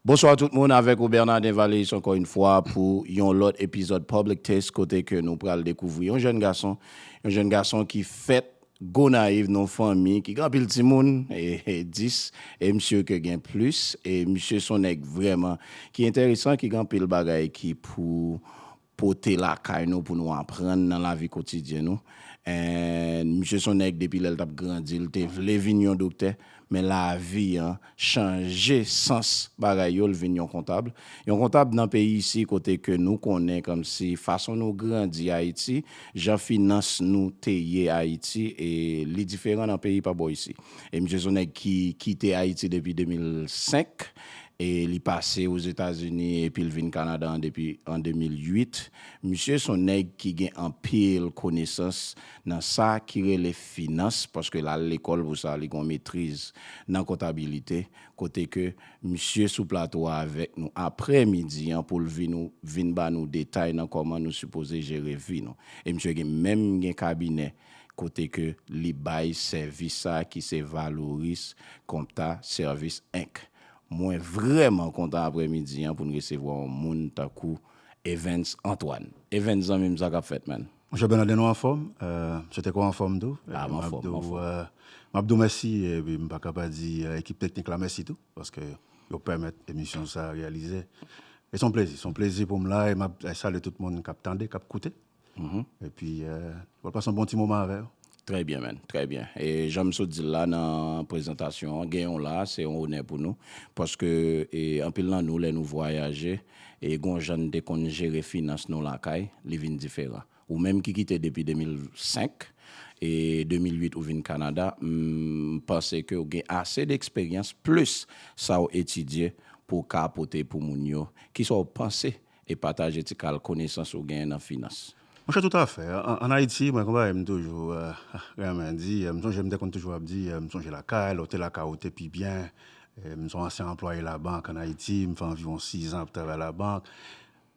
Bonsoir tout moun avèk ou Bernadin Valeis ankò yn fwa pou yon lòt epizòd Public Taste kote ke nou pral dekouvri yon jèn gason, yon jèn gason ki fèt Gonayiv non fanmi ki gen anpil timoun, 10 e misye ke gen plis e misye son nèg vrèman ki enteresan ki gen anpil bagay ki pou pote lakay nou pou nou aprann nan lavi kotidyen nou and misye son nèg depi lèl tap grandi l te vle vin yon doktè men lavi an chanje sans bagay yo l vin yon kontab yon kontab nan peyi isi kote ke nou konnen kòmsi fason nou grandi ayiti jan finans nou te ye ayiti e li diferan nan peyi pa bò isi e misye son nèg ki kite ayiti depi 2005 E li pase Ozetazini epi l vin Kanada an depi an 2008. Misye s on nèg ki gen anpil konesans nan sa ki rele finans paske l al lekòl pou sa, li gen yon metriz nan kontabilite kote ke misye sou plato a avèk nou aprè midi an pou l vin nou vin ba nou detay nan kòman nou sipoze jere vi nou. E misye gen menm gen kabinè kote ke li bay sèvis sa ki se Valoris Compta Service Inc. Mwen vrèman kontan aprè midi an poun resevwa yon moun tankou Evens Antoine. Evens zanmi m sa kap fèt man? Monchè Bernadin ou anfòm? M swete ke w anfòm tou. Ah m anfòm, m anfòm. M ap di w mèsi epi m pa ka pa di ekip teknik la mèsi tou paske yo pèmèt emisyon sa reyalize. E s on plezi, s on plezi pou m la e m ap salye tout moun kap tande, kap koute. E pi wap pase yon bon ti moman avè yo. Trè byen man, trè byen. E jan m sot di l la nan prezantasyon an, gen w la se yon onè pou nou. Paske anpil nan nou lè nou vwayaje, e gon jan n te konn jere finans nou lakay, li vin diferan. Ou menm ki kite depi 2005, e 2008 ou vin Kanada, m panse ke w gen ase de eksperyans plis sa w etidye pou w ka pote pou moun yo. Kisa w panse E pataje ti kal konesans ou genyen nan finans. Monchè tout afè, an Ayiti, mwen gen yon bagay m toujou renmen di, m sonje m te konn toujou ap di, m sonje lakay, lè w te lakay ou te pi byen, m se yon ansyen anplwaye labank an Ayiti, m fè anviwon 6 an ap travay labank,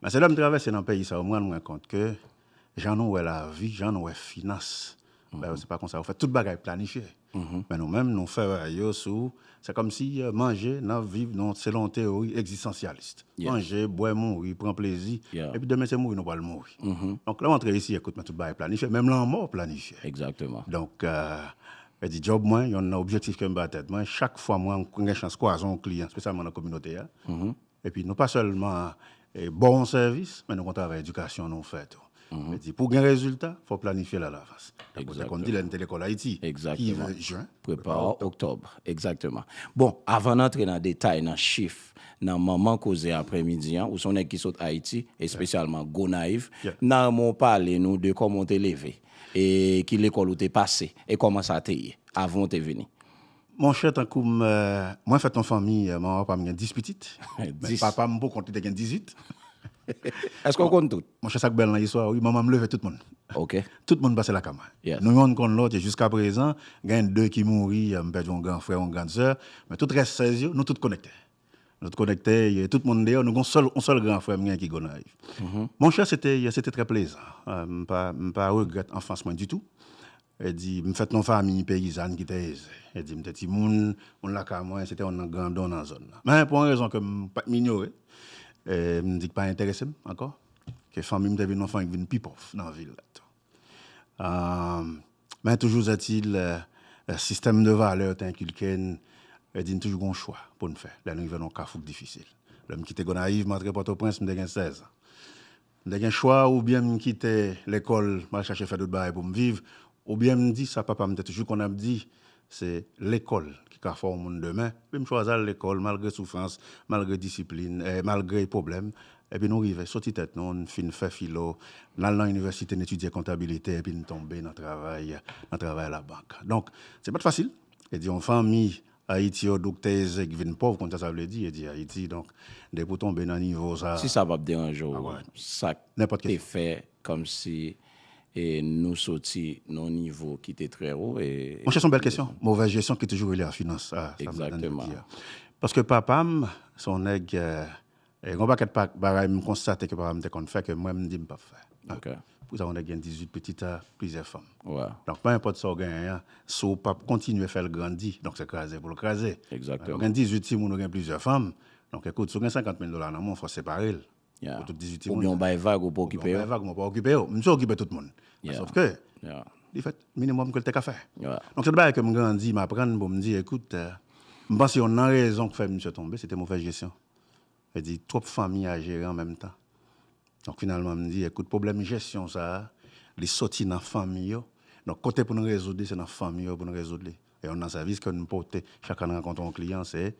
men se lè m travèse nan peyi sa yo m rann mwen kont ke jan nou wè lavi, jan nou wè finans, bagay yo se pa konsa yo fèt, tout bagay planifye. Men nou menm nou fèraye yo sou, se kòmsi manje nan viv nou selon yon teyori egzistansyalis. Manje, bwè, mouri, pran plezi, epi demen se mouri nou pral mouri. Donk lè w antre isi ekout men tout bagay planifye, menm lanmò planifye. Donk e di djòb mwen, yonn nan objektif ke m ba tèt mwen, chak fwa mwen gen chans kwaze yon kliyan, espesyalman nan kominote a, Epi nou pa sèlman ba w yon sèvis, men nou konn travay edikasyon nou fè tou. Sa vle di pou w gen rezilta, fò w planifye l alavans. Tankou te konn di lè n te lekòl Ayiti, ki ve jen, prepa w oktòb. Egzakteman. Bon, avan n antre nan detay, nan chif, nan manman koze aprèmidi an, ou se yon nèg ki sot Ayiti, espesyalman Gonayiv, m ta renmen w pale nou de kòman w te leve, e ki lekòl ou te pase, e kòman sa te ye avan w te vini. Monchè tankou m, mwen fèt nan fanmi, manman papa m gen 10 pitit. Men papa m pou kont li te gen 18. Èske w konn tout? Monchè sa k bèl nan istwa a wi, manman m leve tout moun. Ok. Tout moun pase lakay mwen. Nou youn konn lòt e jiska prezan, gen 2 ki mouri, m pèdi yon gran frè, yon gran sè, men tout rès 16 yo, nou tout konekte. Nou t konekte e tout moun deyò nou gon sèl yon sèl gran frè m gen ki Gonayiv. Monchè se te se te trè plezan m pa m pa regrèt anfans mwen ditou e di m fèt nan yon famiy peyizàn ki te eze e di m te timoun moun lakay mwen se te yon nan gran don nan zòn nan men pou yon rezon ke m pa t m inyore e m di k pa enterese m ankò ke fanmi m te vin yon fanmi k vin pi pòv nan vil la tou an. Men toujou zètil, sistèm de valè yo te enkilke n, yo di n toujou gen yon chwa pou n fè lè n rive nan yon kafou k difisil. Lè m kite Gonayiv, m antre Pòtoprens, m te gen sèzan. M te gen chwa oubyen m kite lekòl, m al chache fè dout bagay pou m viv, oubyen m di sa papa m te toujou konn ap di, Se lekòl ki ka fè w moun demen. Epi m chwazi al lekòl malgre soufrans, malgre disiplin, malgre pwoblèm. Epi nou rive soti tèt nou, n fin fè filo, n al nan inivèsite, n etidye kontabilite, epi n tonbe nan travay, nan travay alabank. Donk, se pa t fasil. E di yon fanmi Ayiti yo doukte eze ki vin pòv, konn sa sa vle di, e di Ayiti. Donk, depi w tonbe nan nivo sa a. Si sa pa p deranje w, sa k te fè Komsi e nou soti non nivo ki te trè wo e. Monchè son bèl kesyon, movèz jesyon ki toujou rele a finans sa sa m tande yo di a. Paske papa m se yon nèg e gon pakèt bagay m konstate ke papa m te konn fè ke mwen m di m pap fè. Pou sa yon nèg gen 18 pitit a plizyè fanm. Donk pe enpòt sa w genyen an si w pap kontinye fè l grandi donk se kraze pou l kraze. Ou gen 18 timoun ou gen plizyè fanm donk ekout si w gen 50 mil dola nan men w fò w separe l Yeah. Pou tout 18 timoun. Oubyen ou bay vag ou pa okipe yo. Ou bay vag ou pa okipe yo. Misye okipe tout moun. Yeah. Sof ke. Yeah. Li fè minimum ke l te ka fè. Yeah. Donk se de bagay ke m grandi, m aprann pou m di ekout, m panse yon nan rezon k fè misye tonbe se te movèz jesyon. Vle di twòp fanmi a jere an menm tan. Donk finalman m di ekout pwoblèm jesyon sa a, li soti nan fanmi yo. Donk kote pou nou rezoud li se nan fanmi yo pou nou rezoud li. Youn nan sèvis ke nou pote chak lè n rankontre yon kliyan se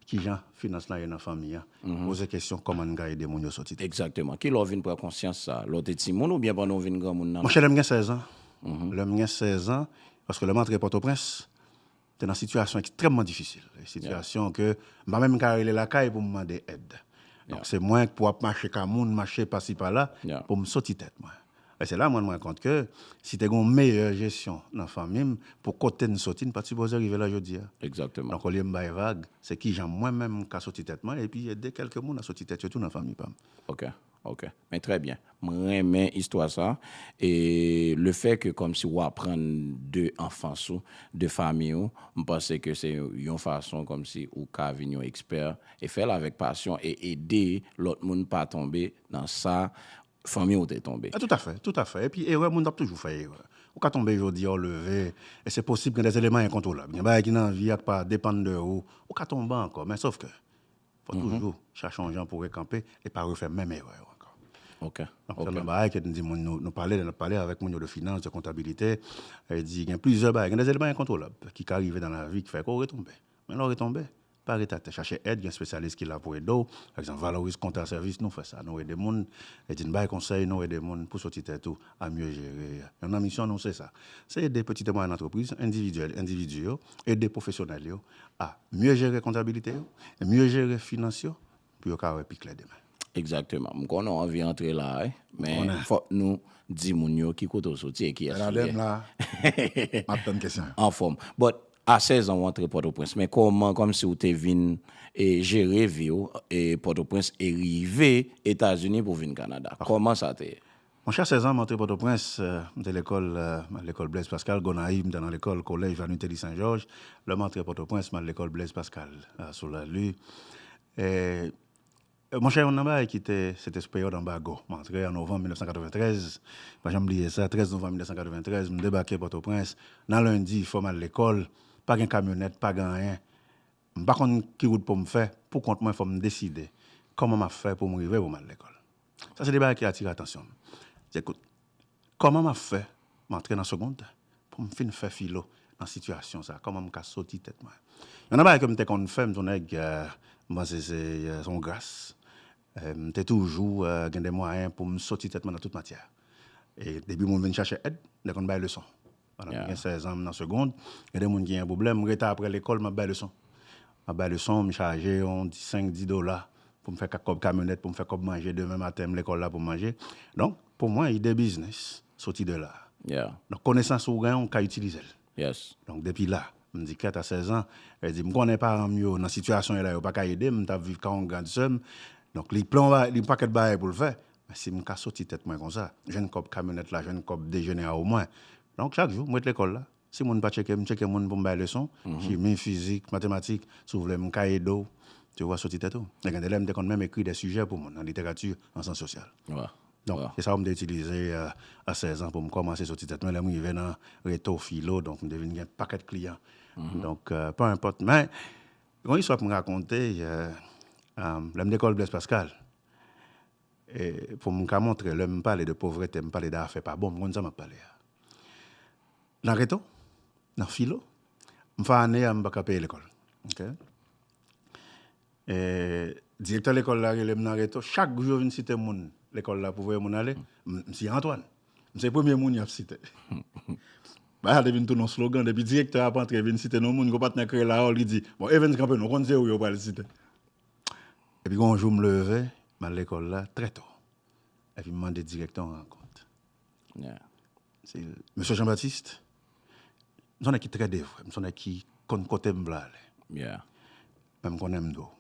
kijan finans lan ye nan fanmi an. Poze kesyon kòman n ka ede moun yo soti. Egzakteman. Ki lè w vin pran konsyans sa? Lè w te timoun oubyen pandan w vin granmoun nan? Monchè lè m gen 16 an. Lè m gen 16 an, paske lè m antre Pòtoprens, te nan sitiyasyon ekstrèmman difisil. Sitiyasyon ke m pa menm ka rele lakay pou m mande èd. Donk se mwen k pou ap mache ka moun, mache pasi pala pou m soti tèt mwen. E se la mwen mwen kont ke si te gen yon meyè jesyon nan fanmi m pou kote n soti n pat sipoze rive la jodi a. Donk olye m bay vag, se kijan mwen menm m ka soti tèt mwen epi ede kèlke moun a soti tèt yo tou nan fanmi pa m. Ok, ok. Men trè byen. M renmen istwa sa e le fè ke kòmsi ou aprann de anfans ou, de fanmi ou, m panse ke se yon fason kòmsi ou ka vin yon ekspè e fè l avèk pasyon e ede lòt moun pa tonbe nan sa fanmi ou te tonbe. Toutafè, toutafè. Epi erè, moun ap toujou fè erè. Ou ka tonbe jodi a, ou leve, e se posib gen dè eleman enkontwolab. Gen bagay ki nan vi a k pa depann de ou, ou ka tonbe ankò. Men sof ke, fò toujou chache yon jan pou rekanpe e pa refè menm erè yo ankò. Ok, ok. Donk se yon bagay ke nou di moun, nou pale, lè n ap pale avèk moun yo de finans, de kontabilite, e di gen plizyè bagay, gen dè eleman enkontwolab ki ka rive nan lavi ki fè ke ou retonbe. Men lè ou retonbe, Pa ret atè, chache èd, gen spesyalis ki la pou ede w. Pa egzanp, valorize kontra sèvis nou, fè sa nou ede moun, edi n bay konsèy nou ede moun pou soti tèt ou a mye jere. Yonn nan misyon nou se sa, se ede peti e mwayèn antrepriz, endividyèl, endividi yo, ede pwofesyonèl yo a mye jere kontabilite yo, mye jere finans yo, pou yo ka wè pi klè demen. Exactement. M konnen w anvi antre la a wi. Men fòk nou di moun yo ki kote w soti e kiyès ou ye. Bernadette m la a. M ap tann kesyon yo. Anfòm. But a 16 an w antre Pòtoprens. Men kòman kòmsi w te vin jere vi w Pòtoprens e rive Etazini pou w vin Kanada? Kòman sa te ye? Monchè 16 an m antre Pòtoprens, m te lekòl nan lekòl Blaise Pascal, Gonayiv m te nan lekòl Collège Vanuteli Saint Georges, lè m antre Pòtoprens m al lekòl Blaise Pascal sou Lali. Monchè youn nan bagay ki te, se te sou peryòd anbago, m antre an novanm 1993, m pa janm bliye sa, 13 novanm 1993 m debake Pòtoprens, nan lendi fò m al lekòl, pa gen kamyonèt, pa gen anyen, M pa konn ki wout pou m fè pou kont mwen fò m deside kòman m ap fè pou m rive pou m al lekòl. Sa se de bagay ki atire atansyon m. Se kout, kòman m ap fè m antre nan segond pou m fin fè filo nan sitiyasyon sa a? Kòman m ka soti tèt mwen? Yon nan bagay ke m te konn fè, m te yon nèg m panse se yon gras, m te toujou gen de mwayen pou m soti tèt mwen nan tout matyè. E depi moun vin chache èd, m te konn bay leson. Pandan mwen gen 16 ans nan segond, gen de moun ki gen pwoblèm, m rete aprè lekòl map bay leson. Map bay leson, m chaje yon 5, 10 dola pou m fè kak kòb kamyonèt pou m fè kòb manje demen maten m lekòl la pou m manje. Donk, pou mwen ide biznis soti de la. Donk konesans ou gen ou ka itilize l. Donk depi la, m di kèt a 16 ans, e di m konnen paran m yo nan sitiyasyon yo la yo paka ede m, m tap viv ka yon grand sè m. Donk li plan yon pakèt bagay pou l fè, Men si m ka soti tèt mwen konsa, jwenn kòb kamyonèt la, jwenn kòb dejene a omwen. Donk chak jou, m ret lekòl la. Si moun pa tcheke m, m tcheke moun pou m bay leson, chimi, fizik, matematik, si w vle m ka ede w, ti w va soti tèt ou. E gen de lè m te konn menm ekri de sijè pou moun, an literati, an syans sosyal. Donk, se sa w m te itilize a sèzan pou m kòmanse soti tèt mwen. Lè m rive nan reto, filo, donk m te vin gen pakèt kliyan. Donk, pè enpòt. Men, gen yon istwa pou m rakonte, lè m lekòl Blèz Paskal. E pou m ka montre lè m pale de povrete, m pale de afè pa bon, m konn sa m ap pale a. Nan reto, nan filo, m fè ane a m pa ka peye lekòl. Ok. E direktè lekòl la rele m nan reto, chak jou yo vin site moun lekòl la pou voye moun ale, m si Antwàn. M se premye moun y ap site. Bagay la te vin tounen yon slogan, depi direktè a ap antre vin site non moun, yon patnè kreye l, Harold, li di, bon Evens kanpe non, ou konn se ou yo pral site. Epi gen yon jou m leve, m al lekòl la trè tò. Epi m mande direktè yon rankont. Se l, Mesye Jean Baptiste, m son nèg ki trè devwe, m son nèg ki konn kote m vle ale. Men m konnen m dwe w.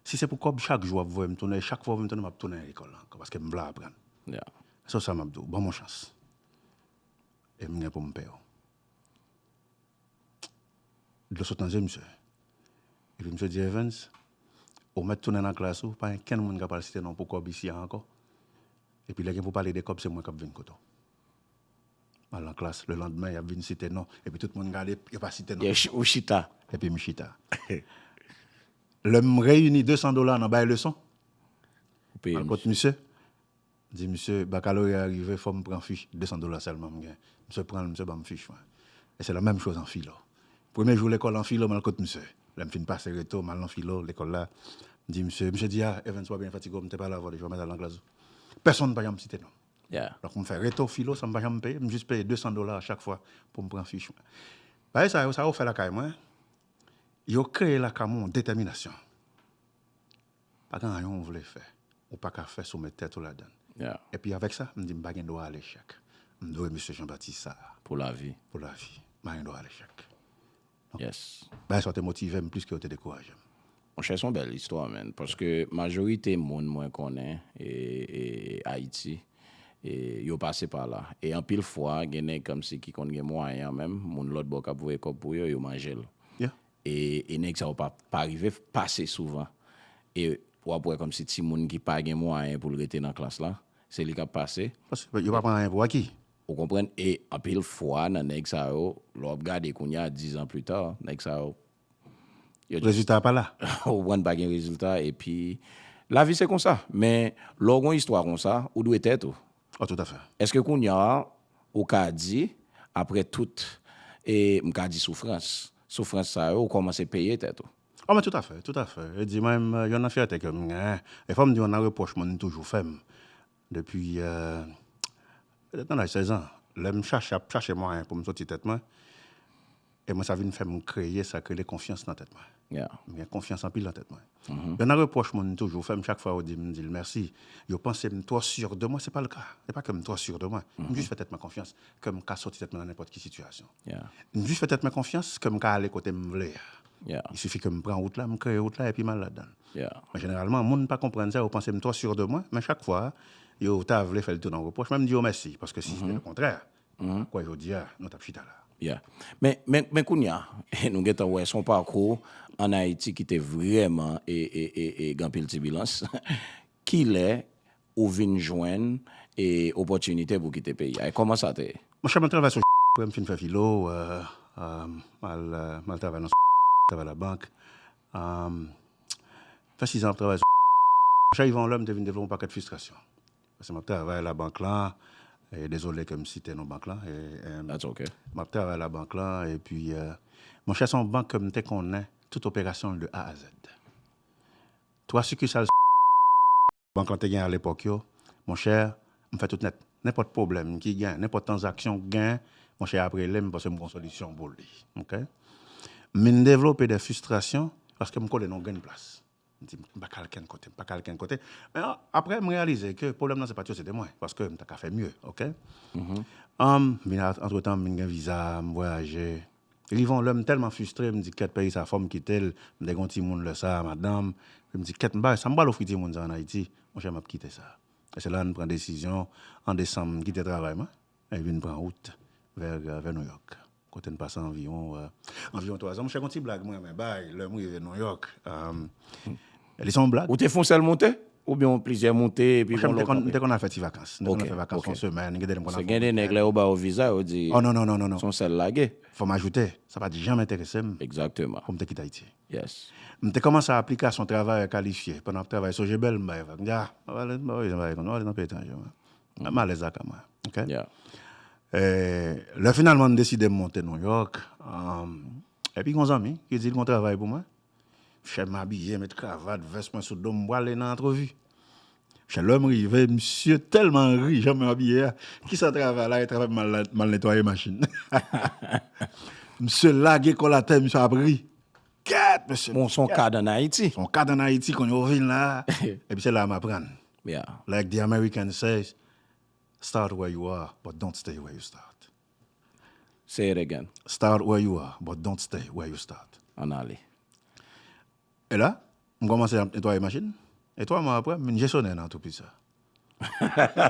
Si se pou kòb, chak jou w ap voye m tounen, e chak fwa w voye m tounen, m ap tounen nan lekòl la ankò, paske m vle aprann. Sèl sa m ap di w, ban m yon chans. E m gen pou m peye w. Dlo sot nan je misye. Epi misye di Evens, ou mèt tounen nan klas ou, pa gen kenn moun k ap al site non w pou kòb isi a ankò. Epi lè gen pou pale de kòb, se mwen k ap vin kote w. M al nan klas, lelandmen y ap vin site non, epi tout moun gade, yo pa site non. Epi ou chita. Epi m chita. Lè m reyini 200 dola nan bay leson, m al kot misye. Di misye bakaloreya rive fòm pran fich 200 dola sèlman m gen misye pranl misye banm fich mwen e se la menm choz an filo premye jou lekòl an filo mal kot misye lèm fin pase reto mal nan filo lekòl la m di misye misye di a Evens wap byen fatigo m te pale avèw deja w mèt al nan klas ou pèsonn pa janm site nonm donk m fè reto filo san m pa janm peye m jis peye 200 dola a chak fwa poum pran fich mwen bagay sa yo sa yo fè lakay mwen yo kreye lakay mwen yon detèminasyon Pa gen anyen ou vle fè, ou pa ka fè si w met tèt ou ladan l. Epi avèk sa, m di m pa gen dwa alechèk. M dwe mesye Janbatis sa a. Pou lavi. Pou lavi. M pa gen dwa alechèk. Bagay sa yo te motive m plis ke yo te dekouraje m. Monchè se yon bèl istwa menn. Paske majorite moun mwen konnen Ayiti, yo pase pa la. E anpil fwa gen nèg kòmsi ki konn gen mwayen an menm, moun lòtbò k ap voye kòb pou yo, yo manje l. E nèg sa yo pa rive pase souvan. E w ap wè kòmsi timoun ki pa gen mwayen pou l rete nan klas la, se li k ap pase. Paske yo pa pran anyen pou aki. Ou konprann? E anpil fwa nan nèg sa yo, lè w ap gade kounye a, dizan plita, nèg sa yo. Rezilta a pa la. Ou konprann? Pa gen rezilta. Epi lavi se konsa. Men lè w gen yon istwa konsa, ou dwe tèt ou. Oh tout afè. Eske kounya ou ka di apre tout e m ka di soufrans, soufrans sa yo ou kòmanse peye tèt ou? Oh men tout afè, tout afè. E di mwen m yonn nan fyète ke m gen, e fò m di yonn nan repwòch moun toujou fè m depi petèt nan laj 16 an lè m chache ap chache mwayen pou m soti tèt mwen. E mwen sa vin fè m kreye sa k rele konfyans nan tèt mwen. M gen konfyans anpil nan tèt mwen. Yon nan repwòch moun toujou fè m chak fwa yo di m di l mèsi, yo panse m twò sur de mwen, se pa l ka. Se pa ke m twò sur de mwen. M jis fè tèt mwen konfyans ke m ka soti tèt mwen nan nenpòt ki sitiyasyon. M jis fè tèt mwen konfyans ke m ka ale kote m vle a. Il suffit ke m pran wout la, m kreye wout la epi m al ladan l. Men jeneralman moun pa konprann sa, yo panse m twò sur de mwen, men chak fwa yo ta vle fè l tounen yon repwòch, mwen m di yo mèsi, paske si se te le kontrè, Mwen pa kwè jodi a nou t ap chita la. Yeah. Men kounye a, nou gen tan wè se yon pakou ann Ayiti ki te vrèman gen anpil tibilans. Kilè ou vin jwenn opòtinite pou w kite peyi a e kòman sa te ye? Monchè, mwen travay sou aprè m fin fè filo, m al travay nan travay labank. M fè sizan ap travay sou. Monchè, rive yon lè m te vin devlope yon pakèt fistrasyon. Paske map travay la bank lan dezole kem site non bank lan map travay la bank lan epi monchè son bank kem te konnen tout operasyonl de A a Z 3 sikisal bank lan te gen alepòk yo monchè mfè tout nèt nenpòt pwoblèm ki gen nenpòt tanzaksyon k gen monchè yap relem paske mgon solisyon pou li ok mvin devlope de fistrasyon paske mkole non grenn plas M di, M pa ka al kenn kote, m pa ka al kenn kote. Men aprè m reyalize ke pwoblèm nan se pa t yo, se te mwen. Paske m ta ka fè mye, oke. Antretan, m vin gen viza, m vwayaje. Rive yon lè, m tèlman fistre, m di, Kèt, peyi sa a fò m kite l. M te gen yon timoun lè sa a, madanm. Epi m di, Kèt, m pa wè sa m pral ofri timoun sa a ann Ayiti. Monchè, m ap kite sa. E se la a m pran desizyon, an desanm, m kite travay mwen e m vin pran wout vè Nouyòk. Kote n pase anviwon anviwon twa zan. Monchè gon ti blag mwen renmen bay lè m rive Nouyòk. Li se yon blag. Ou te fè yon sèl monte? Oubyen yon plizyè monte epi gon lòt kanpe? M te konn al fè ti vakans. M te konn al fè vakans yon semèn. Gen de lè m konn al fè yon wikèn. Paske gen de nèg lè yo ba yo viza yo di. Oh non non non non. Se yon sèl lage. Fò m ajoute, sa pa t janm enterese m. Egzakteman. Pou m te kite Ayiti. Yes. M te kòmanse aplikasyon travayè kalifye. Pandan m ap travay Sogébel m bay vag. M di a, m pa pale m pa pale jan bagay konn. M pa pale nan peyi etranje mwen. M alèz ak a mwen. Ok. Lè finalman m deside m monte New York, epi gon zanmi ki di l gon travay pou mwen. Chè m abiye, met kravat, vès mwen sou do m, m prale nan antrevi. Chè lè m rive, misye tèlman ri jan mwen abiye a, ki sa travay la e travay m al netwaye machin. Misye lage kò l atè, misye ap ri. Kèt mesye! Bon, s on kad an Ayiti. S on kad an Ayiti, konn yo vin la. Epi se la m aprann. Yeah. Like the American says, Start where you are, but don't stay where you start. Say it again. Start where you are, but don't stay where you start. Ann ale. E la, m kòmanse ap netwaye machin, e 3 mwa apre, m vin jesonè nan antrepriz sa.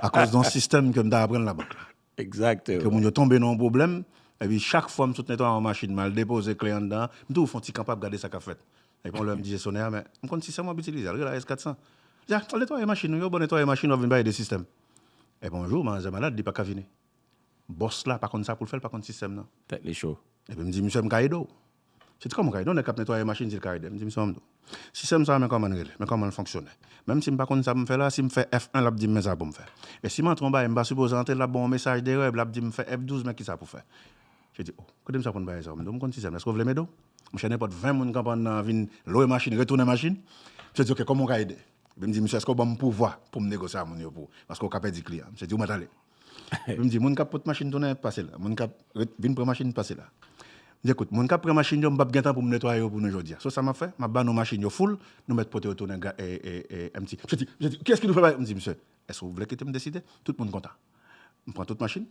Akoz don sistèm ke m ta aprann labank la. Exacte. Ke moun yo tonbe nan yon pwoblèm, epi chak fwa m sot netwaye yon machin, m al depoze kle anndan an, m toujou fè yon ti kanp ap gade sa k ap fèt. Epi yon lè m di jesonè a, men, m konn sistèm w ap itilize a, l rele AS 400. Li di, a, al netwaye machin ou, yo bon netwaye machin, w ap vin pale de sistèm. Epi yon jou, manzè malad, li pa ka vini. Bòs la pa konn sa pou l fè, l pa konn sistèm nan. Tèt li cho. Epi m di misye, m ka ede w? Se ti kòm ride, yon nèg k ap netwaye machin di l ka ede m, di m sa w mande w. Sistèm sa a men kòman l rele, men kòman l fonksyone. Menm si m pa konn sa pou m fè la a, si m fè F1 l ap di m men sa pou m fè. E si m antre yon bagay m pa sipoze antre l ap ban m yon mesaj derè epi l ap di m fè F12 men kisa pou fè. Je di o, kote m sa konn bagay sa w mande w, m konn sistèm la èske w vle m ede w? Mon chè nenpòt 20 moun k ap anndan an vin lwe machin, retounen machin. Misye di ok kòman w ka ede? Epi m di misye èske w ban m pouvwa pou m negosye a moun yo pou paske w ka pèdi kliyan. Misye di ou mèt ale. Epi m di, moun k ap pot machin tounen, pase la. Moun k ap ret vin pran machin, pase la. M di, ekout, moun k ap pran machin yo, m p ap gen tan pou m netwaye yo pou nou jodi a. So sa m ap fè, m ap ba nou machin yo foul, nou mèt pote yo tounen ga, e, e, e, empty. Misye di, misye di, kiyès ki nou fè bagay? M di, misye, èske ou vle kite m deside? Tout moun kontan. M pran tout machin,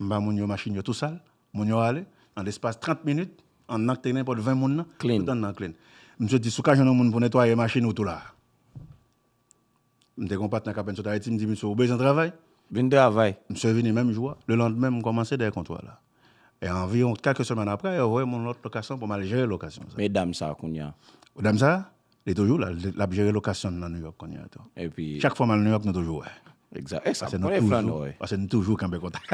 m ba moun yo machin yo tou sal, moun yo ale, an lespas 30 minit, anndan k te gen nenpòt 20 moun nan, tout anndan an clean. Misye di, si w ka jwenn yon moun pou netwaye machin ou tou la a. M te gen yon patnè k apenn sot Ayiti, m di misye ou bezwen travay? Vin travay. Misye vini menm jou a. Lelanndemen m kòmanse dèyè kontwal la. E anviwon kèk semèn apre, yo voye m yon lòt lokasyon pou m al jere lokasyon sa a. Men dam sa a kounye a? Dam sa a? Li toujou la, l ap jere lokasyon nan Nouyòk kounye a tou. Epi? Chak fwa m al Nouyòk nou toujou wè. Exact esa m konnen flan nò e. Pase nou toujou kanpe kontak.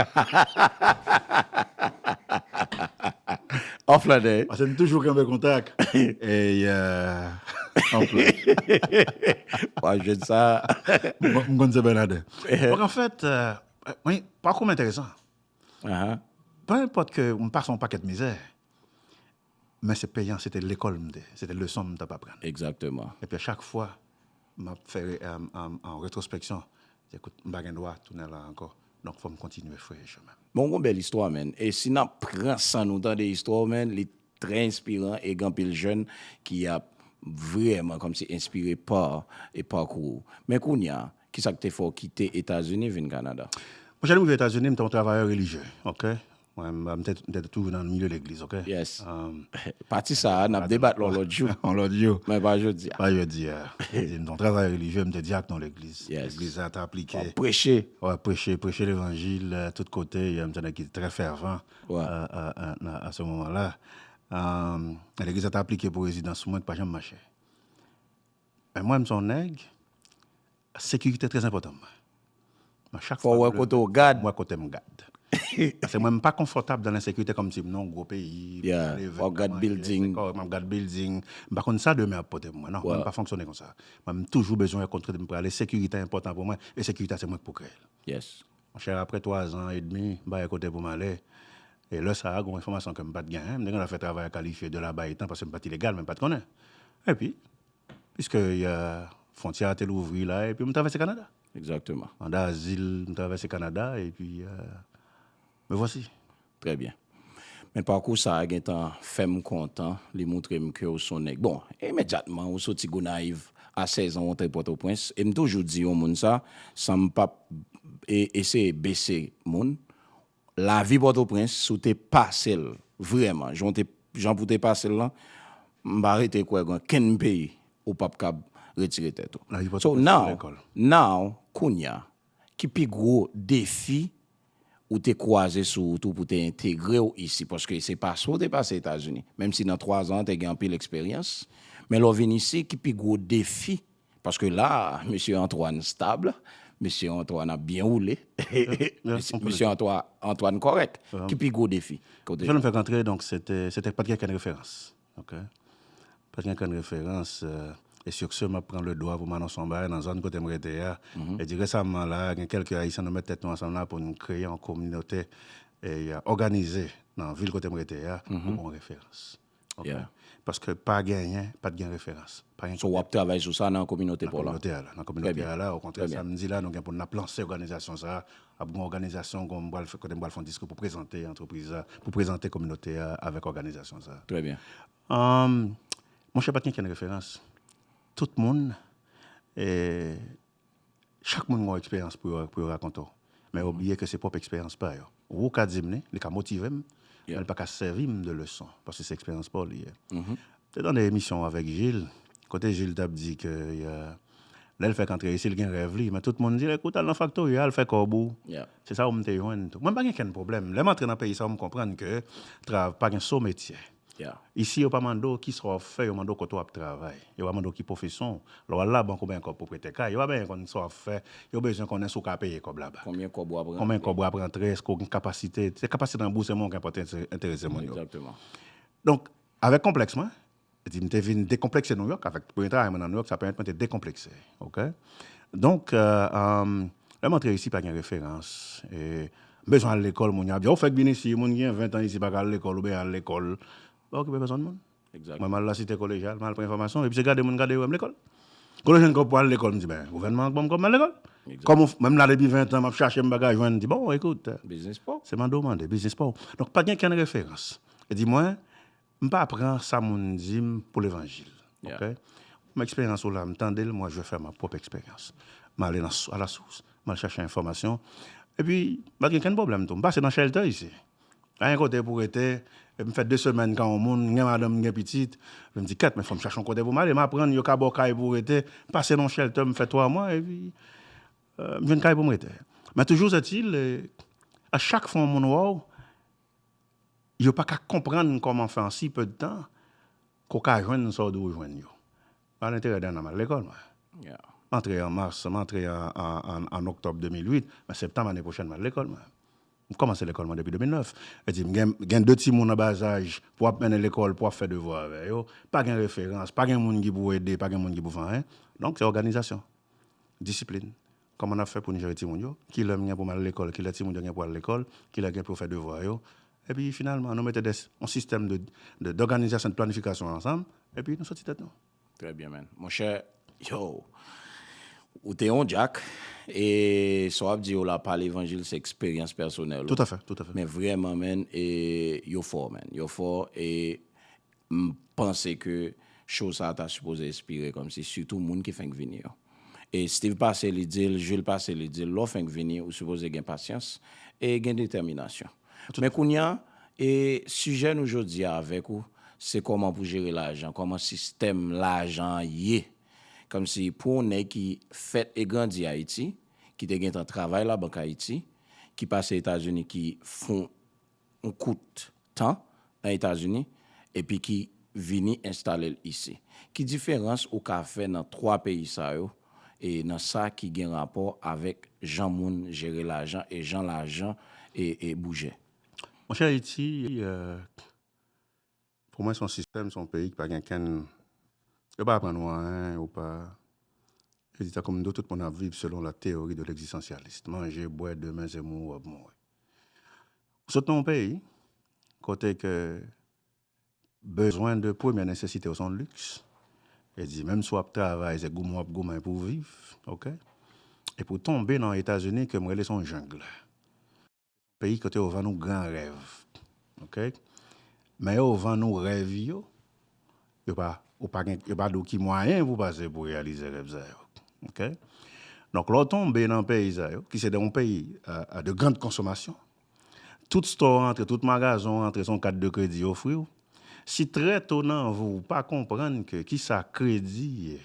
An flan nò e. Pase nou toujou kanpe kontak. Ey an flan. Wa jwenn sa. M konn se Bernadin. Donk an fèt mwen pakou m enteresan. Peu enpòt ke m pase yon pakèt mizè. Men se peyan se te lekòl m te, se te leson m tap aprann. Exactement. Epi a chak fwa map fè yon retrospeksyon se kout m pa gen dwa tounen la ankò donk fòm kontinye freye chemen. Men w gon bèl istwa man e si nap pran san nou tande istwa w man li trè enspiran e gen anpil jèn ki ap vrèman kòmsi enspire pa e pakou w. Men kounya kisa k te fè w kite Etazini vin Kanada? Monchè lè m rive Etazini m te yon travayè relijye ok Mwen m te toujou nan milieu legliz ok. Yes. Pati sa a nap debat l on lòt jou. On lòt jou. Men pa jodi a. Pa jodi a. Di m ton travayè relijye m te dyak nan legliz. Yes. Legliz la ta aplike. Wap preche. Wap preche, preche levanjil tout kote, m te nèg ki te trè fèvan. Wè. A se moman la. Legliz la ta aplike pou rezidans mwen ki pa janm mache. Men mwen m son nèg Sekirite trè enpòtan pou mwen. Mwen chak fwa mwen leve maten, mwen wè kote m gad. Paske mwen m pa konfòtab dan lensekirite kòm si m nan gwo peyi, m ka leve, m ka manje, m ka kòrèk, m ap gad bilding. M pa konn sa demen ap pote pou mwen. Non, mwen m pa fonksyone konsa. Mwen m toujou bezwen wè kote m prale. Sekirite enpòtan pou mwen e sekirite a se mwen k pou kreye l. Monchè, apre twazan edmi, m pa gen kote pou m ale. E lè sa a, gen yon enfòmasyon ke m pa t genyen. M te gen dwa fè travay a kalifye de la bay tan paske m pa t ilegal men m pa t konnen. Epi. Piske ya fontyè a te louvri la epi m travèse Kanada. Exactement. Manda azil, m travèse Kanada epi me vwasi. Trè byen. Men pakou sa a gen tan fè m kontan, li moutre m ke w s on nèg. Bon, imedyatman ou soti Gonayiv, a 16 an w antre Pòtoprens e m toujou di yon moun sa san m pap eseye bese moun, Lavi Pòtoprens, si w te pase l vrèman jan w te, jan pou w te pase l lan, m pa rete kwè gen okenn peyi ou pap kab retire tèt ou. Lavi Pòtoprens se yon lekòl. So now, now, kounya, ki pi gwo defi ou te kwaze sou wout ou pou te entegre w isi? Paske se pase w te pase Etazini, menm si nan twazan an te gen anpil eksperyans, men lè w vin isi, ki pi gwo defi Paske la a, Mesye Antwàn stab, Mesye Antwàn ap byen woule, Mesye Antwàn kòrèk. Ki pi gwo defi? Jan nou fèk antre, donk se te, se te pat gen okenn referans. Ok. Pat gen okenn referans, e sur ce, m ap pran le dwa pou m anonse yon bagay nan zòn kote m rete a. E di resamman la a, gen kèlke Ayisyen nou met tèt nou ansanm la pou nou kreye yon kominote, e ôganize nan vil kote m rete a, pou gon referans. Yeah. Paske pa genyen, pa t gen referans. Pa gen So w ap travay sou sa nan kominote pa w la? Nan kominote a la. Nan kominote a la, okontrè sa m di la, nou gen pou n ap lanse òganizasyon sa a. Ap gen òganizasyon kon m pral fè, kote m pral fè yon diskou pou prezante antrepriz la, pou prezante kominote a avèk òganizasyon sa a. Trè byen. Monchè pa t gen kenn referans. Tout moun. Chak moun gen yon eksperyans pou yo rakonte w, men yo bliye ke se pwòp eksperyans pa yo. Wou ka di m li, li ka motive m, men li pa ka sèvi m de leson, paske se eksperyans pa w li ye. M te tande emisyon w avèk Jil, kote Jil t ap di ke lè l fèk antre isi, l gen rèv li, men tout moun di l, ekout al nan faktori a, al fè kòb ou. Se sa w m te jwenn tou. Mwen m pa gen kenn pwoblèm. Lè m antre nan peyi sa yo, m konprann ke pa gen so metye. Isi yo pa mande w kisa w ap fè, yo mande w kote w ap travay. Yo pa mande w ki pwofesyon w. Lè w al labank ou benyen kòb pou prete kay, yo pa benyen konn sa w ap fè, yo bezwen konnen si w ka peye kòb la bak. Konbyen kòb w ap rantre. Konbyen kòb w ap rantre, èske w gen kapasite. Se kapasite ranbouse mwen w gen pou enterese moun yo. Donk, avèk konplèks mwen, di m te vin dekonplekse Nouyòk avèk premye travay mwen nan Nouyòk, sa pèmèt mwen te dekonplekse. Donk, lè m antre isi pa gen referans. M bezwen al lekòl moun yo ap di a ou fèk vin isi moun ki gen 20 tan isi paka al lekòl oubyen al lekòl ou pa okipe pèsòn moun mwen mal lasite kolejyal mal pran enfòmasyon epi se gade moun gade yo wèm lekòl kote ou jwenn kòb pou al lekòl m di ben gouvènman an k banm kòb m al lekòl kòm ou menm la depi 20 tan map chache m paka jwenn m di bon ekout se mande ou mande biznis paw donk pa gen kenn referans e di mwen M pa pran sa moun di m pou levanjil. Ok. Menm eksperyans ou la m tande l, mwen je fè ma pwòp eksperyans. M ale nan a la sous, m al chache enfòmasyon. Epi m pa gen okenn pwoblèm tou. M pase nan shelter isi. Pa gen kote pou rete. M fè 2 semèn kan yon moun, m gen madanm, m gen pitit. M di kèt men fò m chache yon kote pou m ale. M aprann yo ka ba w kay pou w rete. M pase nan yon shelter, m fè 3 mwa epi m jwenn kay pou m rete. Men toujou zètil, a chak fwa yon moun wè w. Yo pa ka konprann kòman fè an si pè de tan ke w ka jwenn sa w dwe jwenn yo. Mal enterè Dana, m al lekòl mwen. M antre an mas, m antre an oktòb 2008, men septanm ane pwochèn m al lekòl mwen. M kòmanse lekòl mwen depi 2009. Vle di m gen de timoun an bazaj pou w ap mennen lekòl, pou w ap fè devwa avè yo. Pa gen referans, pa gen moun ki pou ede, pa gen moun ki pou fè anyen. Donk se òganizasyon, disiplin, Kòman n ap fè pou n jere timoun yo? Ki lè m gen pou m al lekòl? Ki lè timoun yo gen pou al lekòl? Ki lè gen pou yo fè devwa yo? Epi finalman, nou mete des, yon sistèm de, de, dòganizasyon, de planifikasyon ansanm, epi nou soti tèt nou. Trè byen, man. Monchè, yow! Ou te yon djak, e sa w ap di yo la pa levanjil, se eksperyans pèsonèl ou. Toutafè, toutafè. Men vrèman, man, e yo fò, man. Yo fò, e M panse ke show sa ta sipoze espire komsi sitou moun ki fenk vini yo. E Steve pase li di l, Jules pase li di l, lè w fenk vini ou sipoze gen pasyans e gen detèminasyon. Men kounya e sijè nou jodi a avèk ou se kòman pou jere lajan, kòman sistèm lajan an ye. Komsi pou yon nèg ki fèt e grandi Ayiti, ki te gentan travay labank Ayiti, ki pase Etazini ki fon yon kout tan nan Etazini epi ki vini enstale l isi. Ki diferans ou ka fè nan twa peyi sa yo e nan sa ki gen rapò avèk jan moun jere lajan e jan lajan e bouje? Monchè Ayiti, Pou mwen son sistèm son peyi ki pa gen kenn yo pa aprann ou anyen yo pa yo di tankou m di w tout moun ap viv selon la théorie de l'existencialiste manje bwè demen se mouri w ap mouri ou sot nan yon peyi kote ke bezwen de premyè nesesite yo son liks yo di menm si w ap travay se goumen w ap goumen pou w viv ok epi w tonbe nan etazini ke m rele son jungle. Peyi kote yo vann ou gran rèv. Ok. Men yo vann ou rèv yo, yo pa, ou pa gen, yo pa di w ki mwayen pou pase pou reyalize rèv sa yo. Ok. Donk lè w tonbe nan peyi sa yo, ki se de yon peyi de grand konsomasyon, tout stò rantre, tout magazen w rantre se yon kat de kredi yo ofri w, si trè to nan vi w ou pa konprann ke kisa kredi ye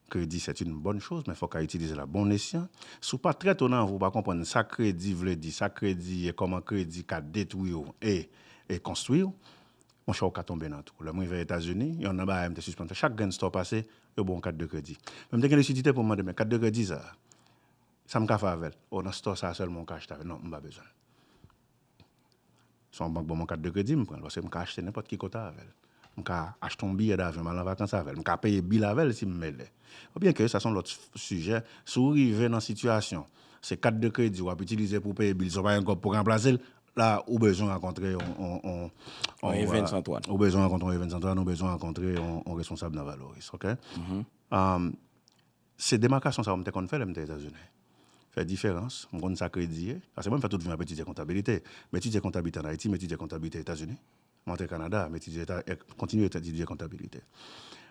Kredi c'est une bonne chose men fok a itilize la bon esyan. Si w pa trè ton anvi w pa konprann sa kredi vle di, sa kredi ye, koman kredi ka detwi w e e konstwi w, monchè w ka tonbe nan twou. Lè m rive Etazini, yonn nan bagay m te sispann fè, chak grenn store w pase, yo ba w yon kat de kredi. Men m te gen lisidite pou m mande men kat de kredi sa a, sa m ka fè avè l? O nan store sa a sèlman w ka achte avè l. Non, m pa bezwen l. Si yon bank ban mwen kat de kredi, m pran l paske m ka achte nenpòt ki kote avè l. M ka achte yon biyè davyon, m al an vakans avè l. M ka peye bil avè l si m mele. Byenke sa se yon lòt sijè, si w rive nan sitiyasyon se kat de kredi w ap itilize pou w peye bil sa w pa gen kòb pou w ranplase l, la ou bezwen rankontre yon Evens Antoine, ou bezwen rankontre yon responsab nan Valoris. Se demarkasyon sa yo m te konn fè lè m te Etazini. Fè diferans, m konn sa kredi ye. Paske mwen m fè tout vi m ap etidye kontabilite. M etidye kontabite an Ayiti, m etidye kontabite Etazini. M antre Kanada, m etidye eta, kontinye etidye kontabilite.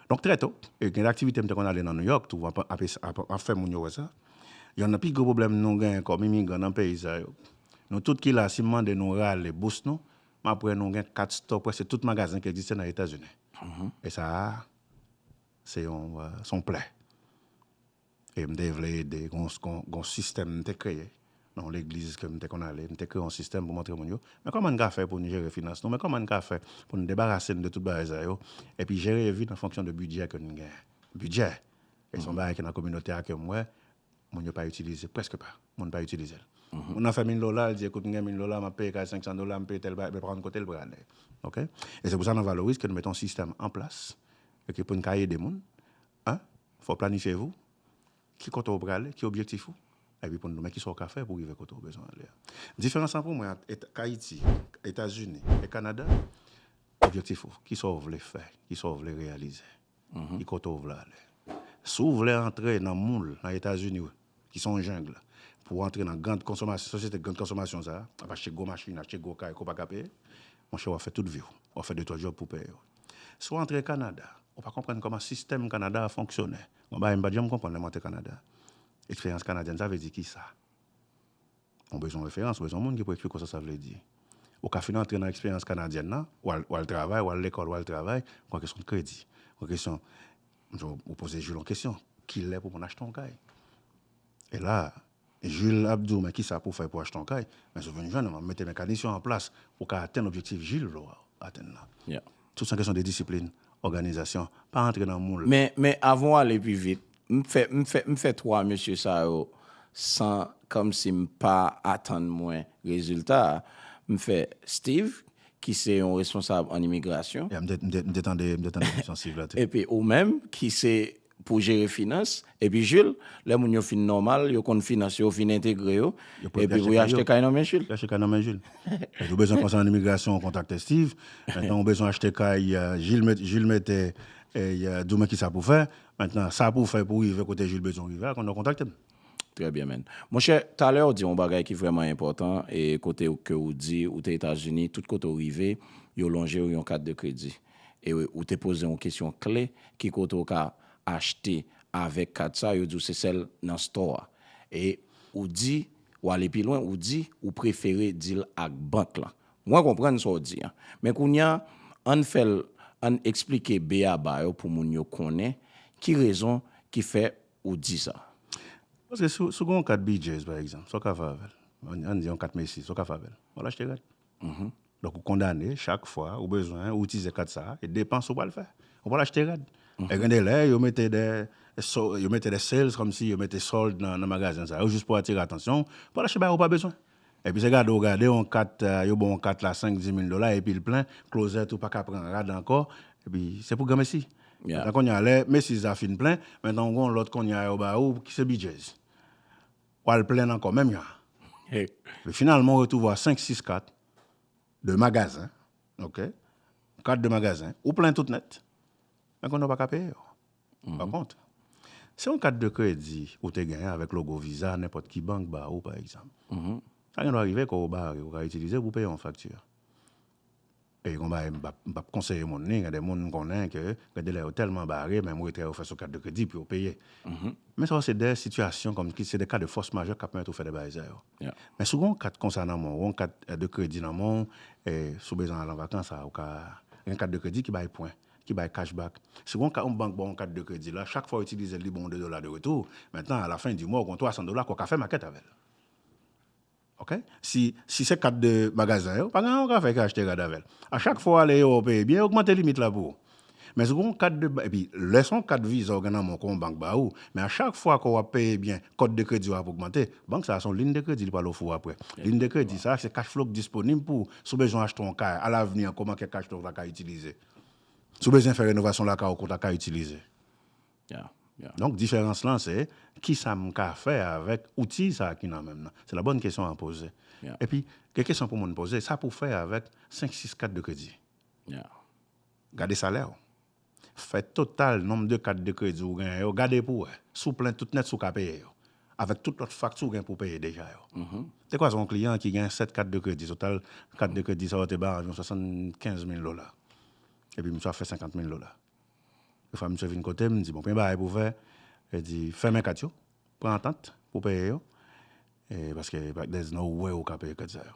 Donk trè to, e gen de aktivite m te konn ale nan Nouyòk tou, ap ap esa, ap ap fè moun yo wè sa. Yonn nan pi gwo pwoblèm nou gen kòm imigran nan peyi sa yo, nou tout ki la si m mande nou rale bous nou, m ap wè nou gen kat stò prèske tout magazen ki egziste nan Etazini. E sa a. Se yon son plè. E m te vle ede, gon yon sistèm m te kreye, nan yon legliz ke m te konn ale, m te kreye yon sistèm pou montre moun yo, men kòman n ka fè pou n jere finans nou, men kòman n ka fè pou n debarase n de tout bagay sa yo, epi jere vi n an fonksyon de bidjè ke n gen. Bidjè! E se yon bagay ki nan kominote a ke m wè, Moun yo pa itilize, prèske pa. Moun pa itilize l. Moun nan fè mil dola, l di, ekout, m gen mil dola, m ap peye kay 500 dola, m peye tèl bagay, men pa konn kote l prale. Ok? E se pou sa nan Valoris ke nou mete yon sistèm an plas, ok, pou n ka ede moun. 1, fò w planifye vi w, ki kote w prale, ki objektif ou, epi pou n di w men ki sa w ka fè pou w rive kote w bezwen ale a. Diferans lan pou mwen ant et, Ayiti, Etazini e Kanada, objektif ou, ki sa w vle fè, ki sa w vle reyalize. e kote w vle ale. Si w vle antre nan moul nan Etazini ki se yon jungle pou w antre nan grand konsomasyon, sosyete grand konsomasyon sa, ap achte gwo machin, achte gwo kay ke w pa ka peye, monchè w ap fè tout vi w, w ap fè de twa djòb pou w peye yo. Si w antre Kanada, ou pa konprann kòman sistèm Kanada a fonksyone. Gon bagay m pa t janm konprann lè m antre Kanada, eksperyans kanadyèn sa vle di kisa? Ou bezwen referans, ou bezwen moun ki pou eksplike w sa sa vle di. Ou ka fin antre nan eksperyans kanadyèn nan, ou al travay, ou al lekòl, ou al travay, kon kesyon kredi, kon kesyon, ou poze Jules yon kesyon, ki lè pou moun achte yon kay? E la, Jules ap di w men ki sa pou w fè pou w achte yon kay, men si w vin jwenn m, m ap mete mekanisyon an plas pou w ka atenn objektif Jules vle w atenn nan. Tout s on kesyon de disiplin, òganizasyon, pa antre nan moul. Men, men, avan w ale pi vit, m fè, m fè, m fè twa mesye sa yo san kòmsi m pa atann mwen rezilta a. M fè Steve, ki se yon responsab an imigrasyon. Ya, m te, m te, m te tande, m te tande emisyon Steve la tou. Epi ou menm, ki se pou jere finans epi Jil lè moun yo fin nòmal yo konn finans yo ou fin entegre yo epi pou yo achte kay nan men Jil. Yo achte kay nan men Jil. Ou bezwen konsènan imigrasyon kontakte Steve, men ou bezwen achte kay Jil mètè di w men kisa pou fè, men sa pou fè pou rive kote Jil bezwen w rive a konnen w kontakte m. Trè byen man. Monchè, talè ou di yon bagay ki vrèman enpòtan e kote ou ke ou di ou te Etazini, tout kote ou rive, yo lonje ou yon kat de kredi. E ou te poze yon kesyon kle, ki kote ou ka achte avèk kat sa, yo di ou se sèl nan store a. E ou di, ou ale pi lwen, ou di ou prefere di l ak bank lan. Mwen konprann sa ou di an. Men kounye a, ann fè l, ann eksplike b-a-ba yo pou moun yo konnen ki rezon ki fè ou di sa? Paske si w gen yon kat BJ's, pa egzanp, sa w ka fè avè l? An n di yon kat Macy's, sa w ka fè avè l? W al achte rad. Donk ou kondane chak fwa ou bezwen ou itilize kat sa a, e depans ou pral fè. Ou pral achte rad. E gen de lè yo mete de yo mete de sales kòmsi yo mete solde nan magazen sa yo jis pou atire atansyon w pou w al achte bagay ou pa bezwen. Epi se gade ou gade yon kat, yo ba w yon kat la 5, 10 mil dola epi l plen, klozèt ou pa ka pran rad ankò, epi se pou granmesi. Nan kounye a lè mesiz la fin plen, men nan w gen yon lòt kounye a yo ba ou ki se bidjez. W al plen ankò menm jan an. Epi finalman ou retwouvwa 5, 6 kat de magazen, ok, kat de magazen, ou plen tout nèt, men kounye a ou pa ka peye yo. Pa kont, si yon kat de kredi ou te genyen avèk logo Visa nenpòt ki bank ba ou, pa egzanp, sa gen dwa rive kò ou bare, ou ka itilize l pou peye yon fakti. E gon bagay m p ap konseye moun ni gen de moun m konnen ke gen de lè yo tèlman bare, menm retrè yo fè sou kat de kredi pou yo peye. Men sa yo se de sitiyasyon kòm ki se de ka de fòs majè k ap pèmèt ou fè de bagay sa yo. Men si w gen yon kat konsa nan men w, yon kat de kredi nan men w, si w bezwen al an vakans a, ou ka gen kat de kredi ki bay pwen. ki bay cash back. Si yon yon bank ba w yon kat de kredi la, chak fwa w itilize l li ba w 2 dola de retou. Mentnan a la fen di mwa w gen yon 300 dola ke w ka fè makèt avè l. Ok. Si si se kat de magazen yo, pa gen anyen w ka fè ke achte rad avè l. A chak fwa w ale ewo w peye byen, yo ogmante limit la pou ou. Men si w gen yon kat de, epi lè se yon kat viza w gen nan men w ke yon bank ba ou, men a chak fwa ke w ap peye byen, kòt de kredi w ap ogmante. Bank sa a se yon lin de kredi li pral ofri w aprè. Lin de kredi sa a se cash flow ki disponib pou ou. Si w bezwen achte yon kay, a lavni an ke w manke cash flow w ta ka itilize. Si w bezwen fè renovasyon lakay ou kont ak kay itilize. Donk diferans lan se kisa m ka fè avèk outi sa a ki nan men m nan. Se la bòn kesyon a poze. Epi gen kesyon pou moun poze, sa pou w fè avèk 5, 6 kat de kredi? Gade salè w. Fè total nonb de kat de kredi ou genyen yo, gade pou w wè si w plen tout nèt si w ka peye yo. avèk tout lòt fakti ou gen pou w peye deja yo. Te kwaze yon kliyan ki gen 7 kat de kredi, total kat de kredi sa yo te bay anviwon 75 mil dola. Epi misye ap fè 50 mil dola. Yon fwa misye vin kote m, m di, bon, premye bagay pou w fè, e di, fèmen kat yo, pran antant pou w peye yo, e paske there's no way ou ka peye kredi sa yo.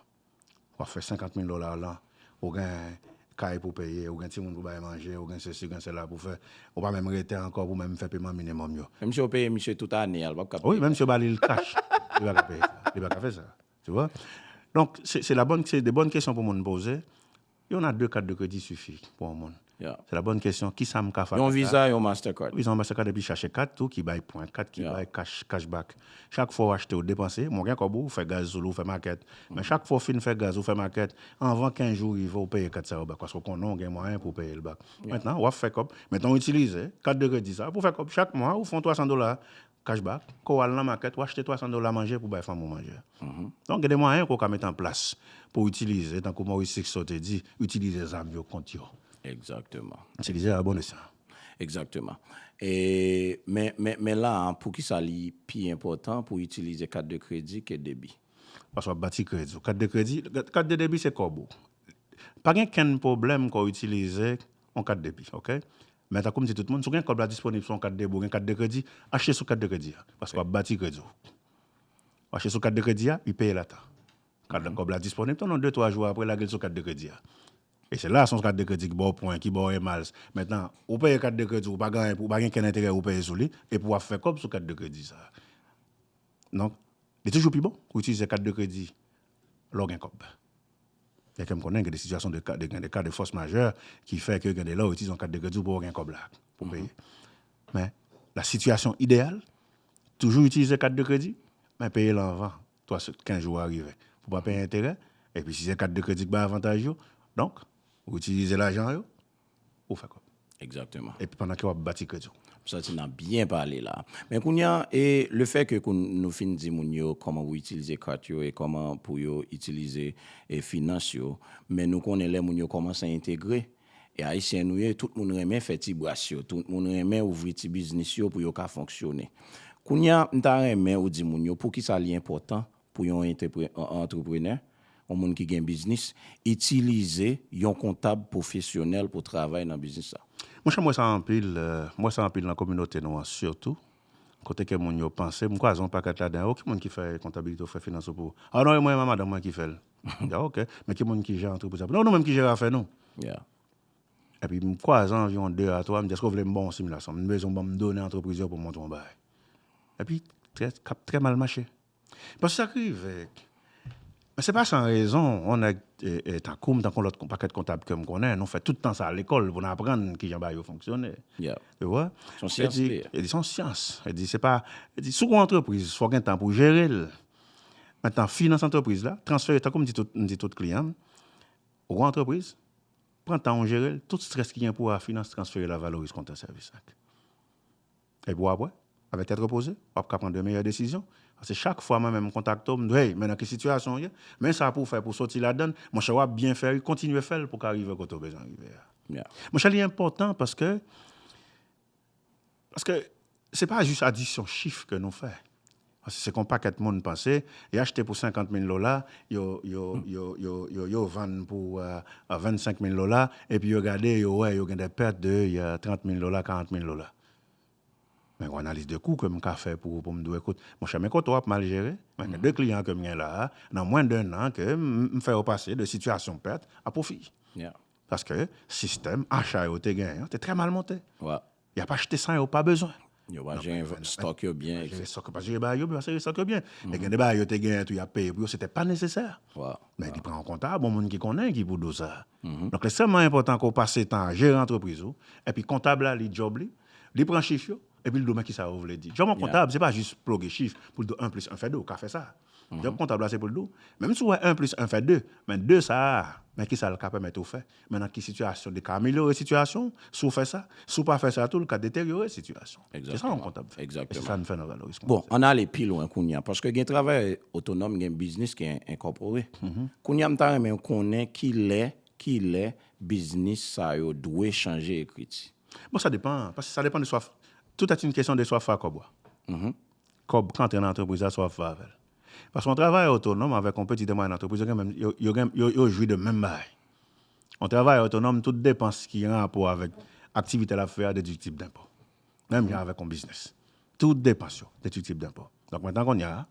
Wap fè 50 mil dola lan, ou gen kay pou peye, ou gen timoun pou bay manje, ou gen sesi, ou gen sela pou fè, ou pa menm rete ankò pou menm fè peman minimòm yo. Menm si yo peye misye tout ane a, li pap ka peye. Wi, menm si yo ba li l kach, li pa ka peye sa. Li pa ka fè sa. Tu vois? Donk, se la bòn, se de bòn kesyon pou moun poze. Yon a 2 kat de kredi sifi pou yon moun. Se la bòn kesyon, kisa m ka fè ak kat la? Yon Visa, yon Mastercard. Yon Visa, yon Mastercard epi chache kat tou ki bay pwen, kat ki bay cash, cash back. Chak fwa ou achte ou depanse, bon gen kòb ou fè gaz sou li, ou fè makèt. Men chak fwa ou fin fè gaz, ou fè makèt, anvan 15 jou rive ou peye kat sa yo back paske ou konnen ou gen mwayen pou peye l back. Mentnan wap fè kòb, mentnan ou itilize kat de kredi sa pou fè kòb. Chak mwa ou fè yon 300 dola Cash back, ke w al nan makèt, w achte 300 dola manje pou bay fanmi w manje. Donk gen de mwayen ke w ka mete an plas pou w itilize, tankou Maurice Sixto te di, itilize zam yo kont yo. Egzakteman. Itilize abòne sa. Egzakteman. E, men, men, men la a, poukisa li pi enpòtan pou w itilize kat de kredi ke debi? Paske w ap bati kredi w. Kat de kredi, kat de debi se kòb ou. Pa gen kenn pwoblèm ke w itilize yon kat debi, oke. Men tankou m di tout moun, si w gen kòb la disponib sou yon kat debit ou gen kat de kredi, achte sou kat de kredi a. Paske w ap bati kredi w. Ou achte sou kat de kredi a, u peye l a tan. Kat la, kòb la disponib tou nan de twa jou apre lage l sou kat de kredi a. E se la a se yon kat de kredi ki ba w pwen, ki ba w e miles. Mentnan, ou peye kat de kredi w, ou pa gen anyen, ou pa gen kenn enterè ou peye sou li, epi w ap fè kòb sou kat de kredi sa a. Donk, li toujou pi bon pou w itilize kat de kredi lè w gen kòb. Gen kèm konnen gen de sitiyasyon de ka, gen de ka de fòs majè ki fè ke gen de lè w itilize yon kat de kredi w pa w gen kòb la pou peye. Men, la sitiyasyon ideyal, toujou itilize kat de kredi, men peye l anvan 3 se 15 jou a rive pou pa peye enterè, epi si se kat de kredi ki bay avantaj yo, donk, ou itilize lajan yo. ou fè kòb. Exactement. Epi pandan ke wap bati kredi w. M santi nap byen pale la. Men kounya e le fè ke kou nou fin di moun yo kòman pou itilize kat yo e kòman pou yo itilize e finans yo, men nou konnen lè moun yo kòmanse entegre, e ayisyen nou ye tout moun renmen fè ti bras yo, tout moun renmen ouvri ti biznis yo pou yo ka fonksyone. Kounya m ta renmen ou di moun yo poukisa li enpòtan Pou yon antreprenè, yon moun ki gen biznis, itilize yon kontab pwofesyonèl pou travay nan biznis la. Monchè m wè sa anpil, m wè sa anpil nan kominote nou an sitou, kote ke moun yo panse, m kwaze yon pakèt ladan yo, ki moun ki fè kontabilite ou fè finans ou pou, ah non e mwen a madanm mwen ki fè l, ah ok, men ki moun ki jere antrepriz la pou nou, non nou menm ki jere afè nou. Epi m kwaze anviwon 2 a 3, m di èske ou vle m ba w yon similasyon, m bezwen w ban m done antrepriz yo pou m montre w yon bagay. Epi, sa ap trè mal mache. Paske sa k rive, se pa san rezon, yon nèg tankou m, tankou lòt yon pakèt kontab ke m konnen, nou fè tout tan sa lekòl pou n aprann ki jan bagay yo fonksyone. Ou wè? Se yon syans li ye. Se yon syans. Yo di se pa, yo di si w gon antrepriz, fò w gen tan pou w jere l. Mentan finans antrepriz la, transfere, tankou m di tout, m di tout kliyan m, ou gon antrepriz, pran tan w jere l, tout strès ki gen pou w a finans, transfere l a Valoris Konte Sèvis ak. Epi wap wè, avèk tèt repoze, wap ka pran de meyè desizyon. Paske chak fwa mwen menm m kontakte w, m di w, hey, men nan ki sitiyasyon w ye, men sa pou w fè pou w soti ladann, monchè wap byen fè wi, kontinye fè l pou w ka rive kote w bezwen rive a. Monchè li enpòtan paske, paske se pa jis adisyon chif ke nou fè. Paske se kon pakèt moun panse, yo achte pou 50 mil dola, yo yo vann pou 25 mil dola, epi yo gade yo wè yo gen dè pèt de 30 mil dola, 40 mil dola. Mwen gon analiz de kou ke m ka fè pou ou pou m di w ekout, monchè men kote w ap mal jere, mwen gen 2 kliyan ke m gen la a, nan mwen de 1 an ke m fè yo pase de sitiyasyon pèt a pwofi. Paske sistèm acha yo te genyen an te trè mal monte. Y ap achte sa yo pa bezwen. Yo pa jere stock yo byen. Yo pa jere stock yo, yo pa jere bagay yo byen, yo pa jere stock yo byen. Men gen de bagay yo te genyen tou y ap peye pou yo, se te pa nesesè. Men li pran yon kontab, yon moun ki konnen ki pou do sa. Donk li ekstrèmman enpòtan ke w pase tan a jere antrepriz ou, epi kontab la li djòb li, li pran chif yo, epi li di w men kisa yo vle di. Djòb yon kontab se pa jis ploge chif pou l di w 1 plis 1 fè 2, ou ka fè sa. Jòb kontab la se pou l di w, menm si w wè 1 plis 1 fè 2, men 2 sa a, men kisa l ka pèmèt ou fè, men nan ki sitiyasyon li ka amelyore sitiyasyon w si w fè sa, si w pa fè sa tou li ka deteryore sitiyasyon w. Se sa yon kontab fè. E se sa n fè nan Valoris Konte. Bon, ann ale pi lwen kounye a, paske gen travayè otonòm, gen biznis ki enkòpore. Kounye a m ta renmen konnen ki lè, ki lè biznis sa yo dwe chanje ekriti. Bon sa depan, paske sa depan de swaf, tout est une question de soif à kòb ou a. kòb k antre nan antrepriz la sa w ap fè avè l. Paske yon travayè otonòm avèk yon peti tanpayè nan antrepriz yo gen menm, yo gen, yo jwi de menm bagay. Yon travayè otonòm tout depans ki gen rapò avèk aktivite l ap fè a dediktib denpo. Menm jan avèk yon biznis. Tout depans yo dediktib denpo. Donk metan kounye a,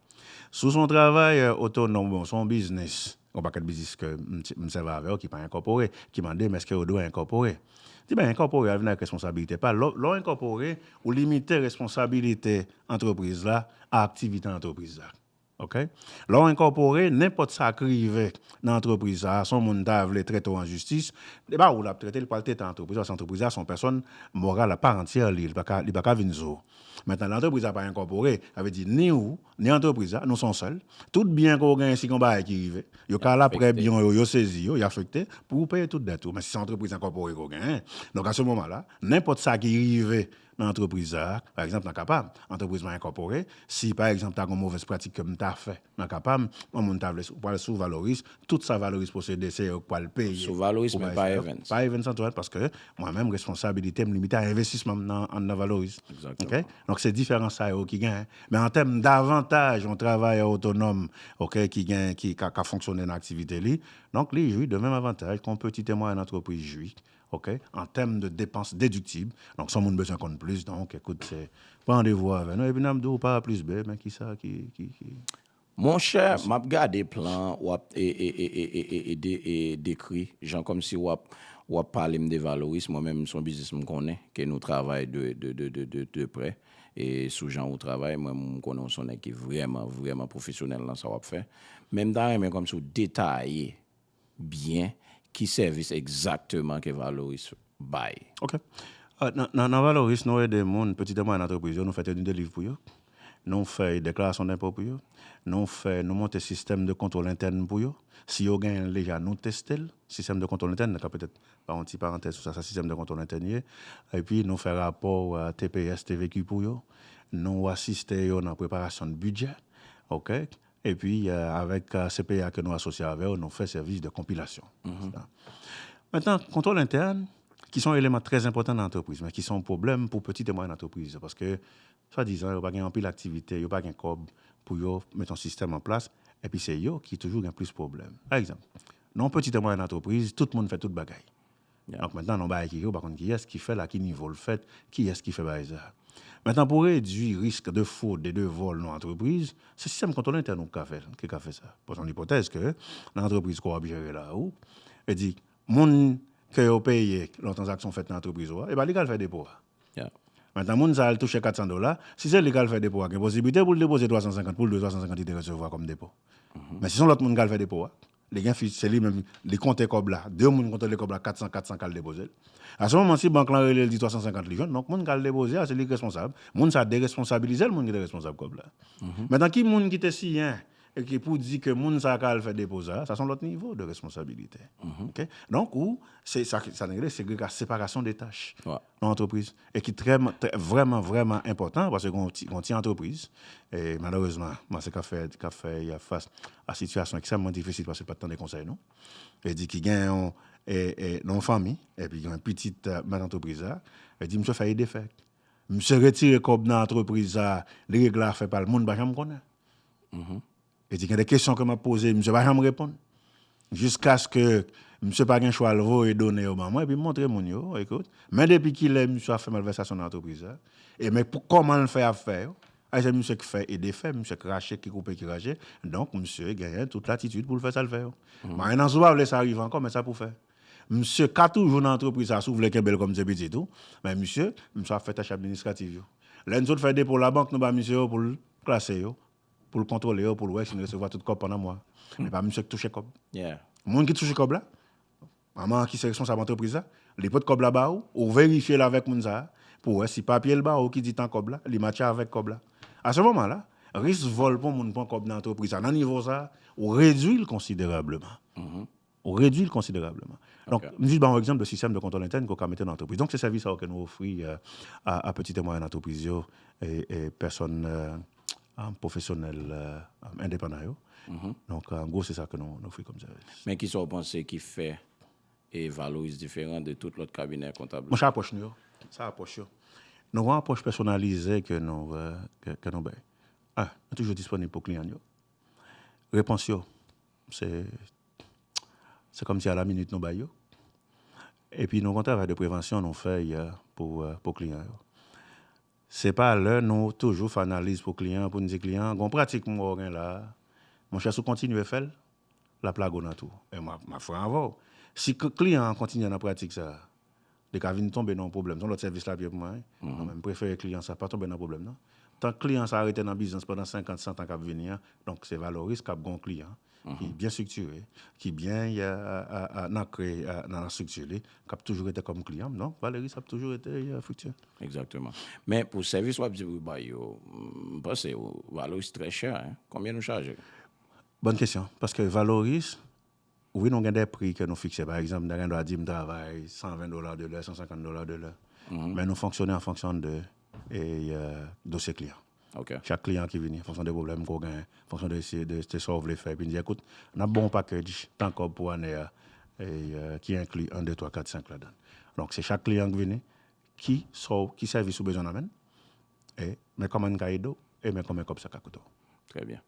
si w se yon travayè otonòm oubyen w se yon biznis, Gon pakèt biznis ke m sèvi avè yo ki pa enkòpore, ki mande m eske yo dwe enkòpore. M di ben enkòpore a vin avèk responsabilite pa l. Lè w enkòpore, ou limite responsabilite antrepriz la a aktivite antrepriz la. Ok. Lè w enkòpore, nenpòt sa k rive nan antrepriz sa a, si yon moun ta vle trete w an jistis, se pa ou l ap trete, li pral trete antrepriz la paske antrepriz la se yon pèsòn moral a part entière li, li pa ka vin sou ou. Mentnan lè antrepriz la pa enkòpore, sa vle di ni ou, Ni antrepriz la, nou son sèl. Tout byen ke w genyen, si gen yon bagay ki rive, yo ka la prè byen w yo, yo sezi yo, y afekte, pou ou peye tout dèt ou. Men si se yon antrepriz enkòpore ke w genyen, donk a se moman la, nenpòt sa ki rive nan antrepriz sa a, pa egzanp nan ka pa m, antrepriz mwen enkòpore, si pa egzanp ta gen yon movèz pratik ke m ta fè nan ka pa m, yon moun ta vle, ou pral sou Valoris, tout sa Valoris posede, se yo ki pral peye Sou Valoris pou men bagay pa sa yo. Evens. Pa Evens Antoine, paske mwen menm responsabilite m limite a envestisman m nan anndan Valoris. Egzakteman. Ok? Donk se diferans sa yo ki genyen. Men an tèm davantaj yon travayè otonòm, ok, ki gen, ki ka, ka fonksyone nan aktivite li, donk li jwi de menm avantaj ke yon petite mwayèn antrepriz jwi, ok, an tèm de depans dediktib, donk si yon moun bezwen konn plis, donk ekout se, pran randevou avè nou epi n ap di w pa A plis B, men kisa ki, ki, ki. Monchè map gade plan wap dekri jan komsi wap wap palem de valoris mwen menm son biznis mkonnen ke nou travay de prè sou jan ou travay mwen menm mkonnen ou son nèg ki vrèman vrèman pwofesyonèl nan sa wap fè men mta renmen komsi ou detaye byen ki sèvis egzakteman ke Valoris bay? Ok. Nan Valoris, nou ede moun, peti e mwayèn antrepriz yo, nou fè teni de liv pou yo, nou fè deklarasyon denpo pou yo, nou fè, nou monte sistèm de kontwòl entèn pou yo. Si yo genyen l deja, nou teste l. Sistèm de kontwòl entèn, mwen ka petèt ba yon ti parantèz sou sa sa sistèm de kontwòl entèn ye. Epi nou fè rapò tps, tvq pou yo. Nou asiste yo nan preparasyon de bidjè. Ok. Epi, avèk CPA ke nou asosye avè yo, nou fè sèvis de konpilasyon. Mentnan, kontwòl entèn, ki se yon eleman trè enpòtan nan antrepriz, men ki se yon pwoblèm pou peti e mwayèn antrepriz, paske, swadizan, yo pa gen anpil aktivite, yo pa gen kòb pou yo met yon sistèm an plas, epi se yo ki toujou gen plis pwoblèm. Pa egzanp, nan yon peti e mwayèn antrepriz, tout moun fè tout bagay. Donk mentan nou bay keke ou pa konn kiyès ki fèl a ki nivo l fèt, kiyès ki fè bagay sa. Mentan pou redwi risk de fwod e de vòl nan antrepriz, se sistèm kontwòl entèn ou kika fèl, kika fè sa. Bon se yon ipotèz ke nan antrepriz ke wap jere la ou, e di moun ke yo peye lè yon tranzaksyon fèt nan antrepriz ou a, e ba li kal fè depo a. Mentan moun sa al touche 400 dola, si se li kal fè depo a gen posiblite poul depoze 350 poul dwe 350 li te resevwa kòm depo. Men si son lòt moun kal fè depo a, Li gen fi se li menm li konte kòb la 2 moun konte li kòb la 400 400 kal depozel a se moman si bank lan relel di 350 li jwenn donk moun kal depoze a se li ki responsab moun sa deresponsabilizel moun ki te responsab kòb la metan ki moun ki te siyen ki pou di ke moun sa ka al fè depo sa sa son lòt nivo de responsabilite ok donk ou se sa ki sa nou rele segrega separasyon de tach yon antrepriz e ki trè vrèman vrèman enpòtan paske gon ti gon ti antrepriz e malerezman mwen se kap fè kap fè ya fas a sitiyasyon ekstrèmman difisil paske pat tande konsèy nou e di ki gen yon e e nan yon fanmi epi gen yon pitit mèt antrepriz la e di misye fè e defè misye retire kòb nan antrepriz sa li regle afè pal moun pa janm konnen Li di gen de kesyon ke map poze misye pa janm reponn. Jiskaske misye pa gen chwa li voye done yo ban mwen epi montre moun yo, ekout, men depi kilè misye ap fè malvèsasyon nan antrepriz la, e men kòman li fè ap fè yo, a se misye ki fè e defè, misye ki rache, ki koupe, ki ranje, donk misye genyen tout latitid pou li fè sa li vle yo. Marenn an si w pa vle sa rive ankò men sa pou fè. Misye ka toujou nan antrepriz sa si w vle kenbe l kòm se pitit ou, men misye, misye ap fè tach administrativ yo. Lè n sot fè depo labank nou ba misye yo pou l klase yo, pou l kontwole yo pou l wè si n resevwa tout kòb pandan mwa a. Men pa misye k touche kòb. Moun ki touche kòb la, manman an ki se responsab antrepriz la, li pot kòb la ba ou, ou verifye l avèk moun sa a pou w wè si papye l ba ou ki di tan kòb la, li matche avèk kòb la. A se moman la, risk vòl pou moun pran kòb nan antrepriz sa a nan nivo sa a, ou redui l konsiderableman. Ou redui l konsiderableman. Donk, m jis ba w yon egzanp de sistèm de kontwòl entèn ke w ka mete nan antrepriz. Donk, se sèvis sa yo ke nou ofri a peti e mwayèn antrepriz yo e pèsòn pwofesyonèl endepandan yo. Donk, an gwo se sa ke nou ofri kòm sèvis. Men ki sa w panse ki fè Valoris diferan de tout lòt kabinè kontab la? Monchè, apwòch nou yo. Se apwòch yo. Nou gen yon apwòch pèsonalize ke nou bay. 1, nou toujou disponib pou kliyan nou yo. Repons yo. Se kòm si a la minit nou bay yo. E pi nou gen yon travay de prevansyon nou fè pou kliyan yo. Se pa lè nou toujou fè analiz pou kliyan an pou nou di kliyan an, gon pratik m wè w gen la a, monchè si w kontinye fè l, l ap lage w nan twou. E m ap franc avè w, si kliyan an kontinye nan pratik sa a, li ka vin tonbe nan yon pwoblèm. Se yon lòt sèvis l ap ye pou mwen wi. Mwen menm, m prefere kliyan sa pa tonbe nan pwoblèm nan. Tank kliyan sa a rete nan biznis pandan senkant, santan k ap vini an, donk se Valoris k ap gen yon kliyan ki byen estriktire, ki byen ankre nan estrikti li, k ap toujou rete kòm kliyan m, donk Valoris ap toujou rete Frikti. Egzakteman. Men pou sèvis w ap di pou bay yo, m panse Valoris trè chè. Konbyen nou chaje? Bòn kesyon. Paske Valoris, Wi nou gen de pri ke nou fikse. Pa egzanp, m ta gen dwa di m travay 120 dola de lè, 150 dola de lè. Men nou fonksyone an fonksyon de dosye kliyan. Chak kliyan ki vini, an fonksyon de pwoblèm ke w gen, an fonksyon de sa w vle fè, epi n di, ekout, n ap ba w yon package tan kòb pou ane a ki enkli 1, 2, 3, 4, 5 ladan l. Donk se chak kliyan ki vini, ki sèvis ou bezwen nan men l, E men kòman n ka ede w? E men konbyen kòb sa ka koute w? Trè byen.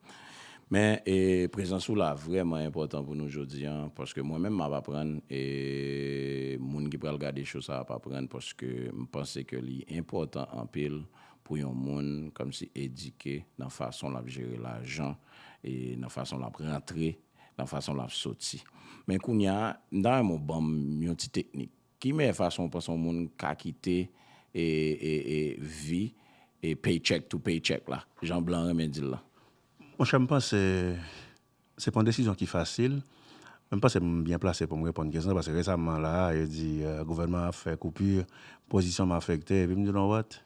Men, e prezans ou la vrèman enpòtan pou nou jodi an, paske mwen menm m ap aprann, e moun ki pral gade cho sa ap aprann, paske m panse ke li enpòtan anpil pou yon moun kòmsi edike nan fason l ap jere lajan, e nan fason l ap rantre, nan fason l ap soti. Men kounye a, m ta renmen w ban m yon ti teknik. Ki meyè fason ou panse yon moun ka kite vi paycheck to paycheck la, jan blan renmen di l lan? Monchè, m panse se pa yon desizyon ki fasil, men m panse m byen plase pou m reponn kesyon sa, paske resamman la a, yo di gouvènman an ap fè koupir, pozisyon m afekte, epi m di you know what?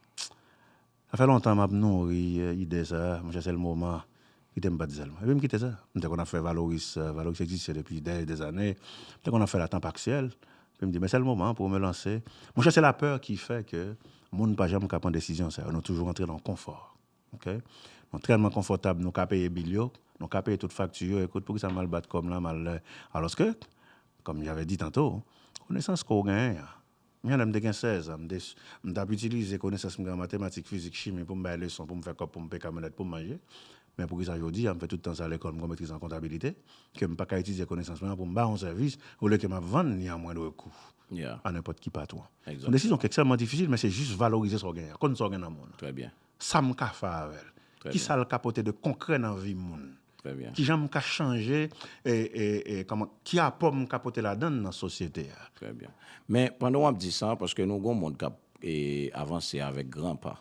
Sa fè lontan m ap nouri ide sa, mwen chèche l moman kite m pa di sèlman. Epi m kite sa. M te konn ap fè valoris, valoris egziste depi dè e dè zane, m te konn ap fè l a tan paksyèl, epi m di men sèl moman pou mwen lanse. Mwen chèche lapè ki fè ke moun pa janm ka pran desizyon sa yo, nou toujou rantre nan konfò. Ok. Nou tèlman konfòtab, nou ka peye bil yo, nou ka peye tout fakti yo, ekout poukisa m al bat kò m la, m al, alòske, kòm javè di tanto, konesans ke w genyen an, Men, lè m te gen sèz an, m t ap itilize konesans m gen an matematik, fizik, chimi pou m bay leson, pou m fè kòb, pou m peye kamyonèt, pou m manje. Men poukisa jodi a, m fè tout tan sa lekòl, m gen yon metriz an kontabilite, ke m pa ka itilize konesans mwen an pou m bay yon sèvis, olye ke m ap vann li a mwendr kou a nenpòt ki patwon? S on desizyon ki ekstrèmman difisil, men se jis valorize sa w genyen an, konn sa w gen nan men w lan. Sa m ka fè avè l? Ki sa l ka pote de konkrè nan vi moun? Ki jan m ka chanje, ki apò m ka pote ladan l nan sosyete a? Trè byen. Men, pandan w ap di sa, paske nou gen yon mond k ap avanse avèk gran pa,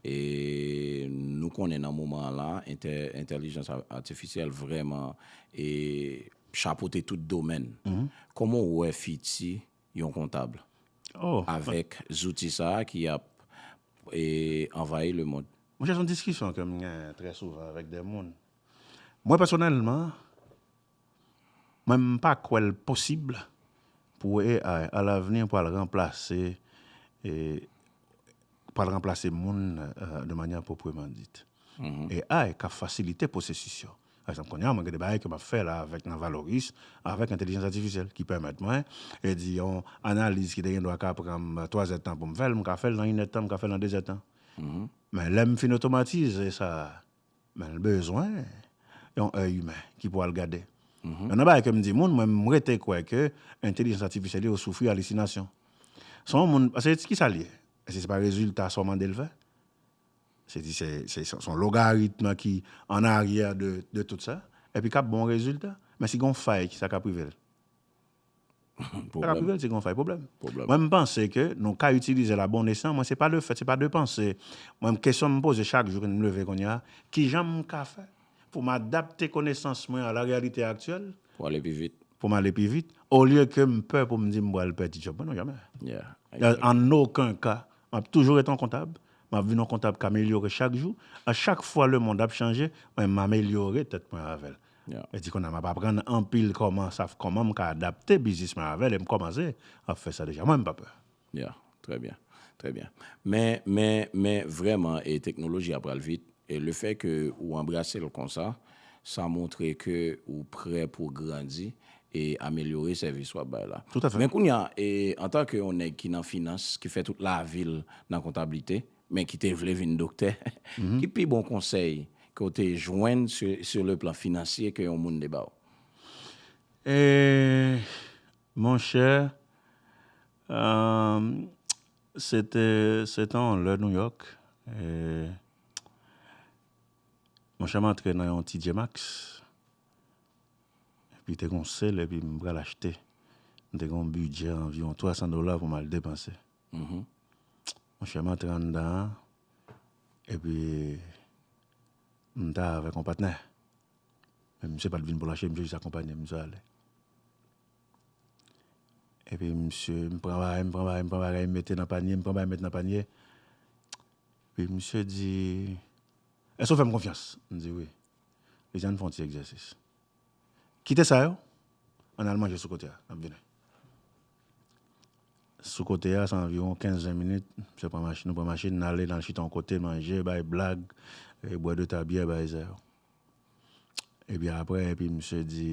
e nou konnen nan moman an la, entèlijans atifisyèl vrèman chapote tout domèn. Kòman w wè fiti yon kontab avèk zouti sa a ki ap anvayi lemond. Monchè, se yon diskisyon ke m gen trè souvan avèk dè moun. Mwen pèsonèlman, mwen m pa kwè l posib pou AI a lavni pral ranplase pral ranplase moun de manyè pwopreman dit. AI ka fasilite pwosesis yo. Pa egzanp, kounye a mwen gen de bagay ke m ap fè la avèk nan Valoris, avèk entelijans atifisyèl ki pèmèt mwen, e di yon analiz ki te gen dwa ka pran m twazèdtan pou m fè l, m ka fè l nan inèdtan, m ka fè l nan dezèdtan. Men lè m fin otomatize sa, men l bezwen yon èy imen ki pou al gade. Yon nan bagay ke m di moun, mwen m rete kwè ke entelijans atifisyèl yo soufri alisinasyon. Son moun, paske ki sa l ye? Èske se pa rezilta sa w mande l fè? Se di se son logaritme ki an aryè de tout sa, epi kap bon rezilta. Men si gon fay kisa kap rive l? Sa kap rive l si gon fay pwoblèm. Mwen m panse ke nou ka itilize l a bon estan, mwen se pa de fèt, se pa de panse. Mwen kesyon m poze chak jou m leve kounye a, kijan m ka fè pou m adapte konesans mwen a la reyalite aktyèl? Pou ale pi vit. Pou m ale pi vit, olye ke m pè pou m di m pral pèdi djòb mwen, non janmè. An oken ka M ap toujou ret on kontab. M ap vin on kontab k amelyore chak jou. A chak fwa lemonn ap chanje, mwen m amelyore tèt mwen avè l. E di kounye a m ap aprann anpil kòman sa kòman m ka adapte biznis mwen avè l e m kòmanse ap fè sa deja. Mwen m pa pè. Ya, trè byen. Trè byen. Men, men, men vrèman e teknoloji a pral vit e lefè ke ou anbrase l konsa, sa montre ke ou prè pou grandi e amelyore sèvis w ap bay la. Toutafè. Men kounye a, antanke yon nèg ki nan finans, ki fè tout lavi l nan kontablite, men ki te vle vin doktè, ki pi bon konsèy ke w te jwenn sur le plan financier ke yon moun te ba w? Monchè, se te yon lè New York, monchè m antre nan yon TJ Maxx. Epi te gen yon sèl epi m pral achte. M te gen yon bidjè anviwon 300 dola pou m al depanse. Monchè m antre anndan an, epi m ta avèk yon patnè. Men misye pa t vin pou l achte, misye jis akonpanye m, misye ale. Epi misye, m pran bagay, m pran bagay, m pran bagay, m mete nan panye, m pran bagay m mete nan panye. Epi misye di, Èske w fè m konfyans? M di wi. Mezi ann fè yon ti egzèsis. Kite sa yo, ann al manje sou kote a, nap vini. Sou kote a, sa anviwon 15, 20 minit, msye pran machin, nou pran machin, nan ale, nan chita yon kote, manje, bay blag, bwè 2 ta byè, bay zè yo. Epi apre, epi msye di,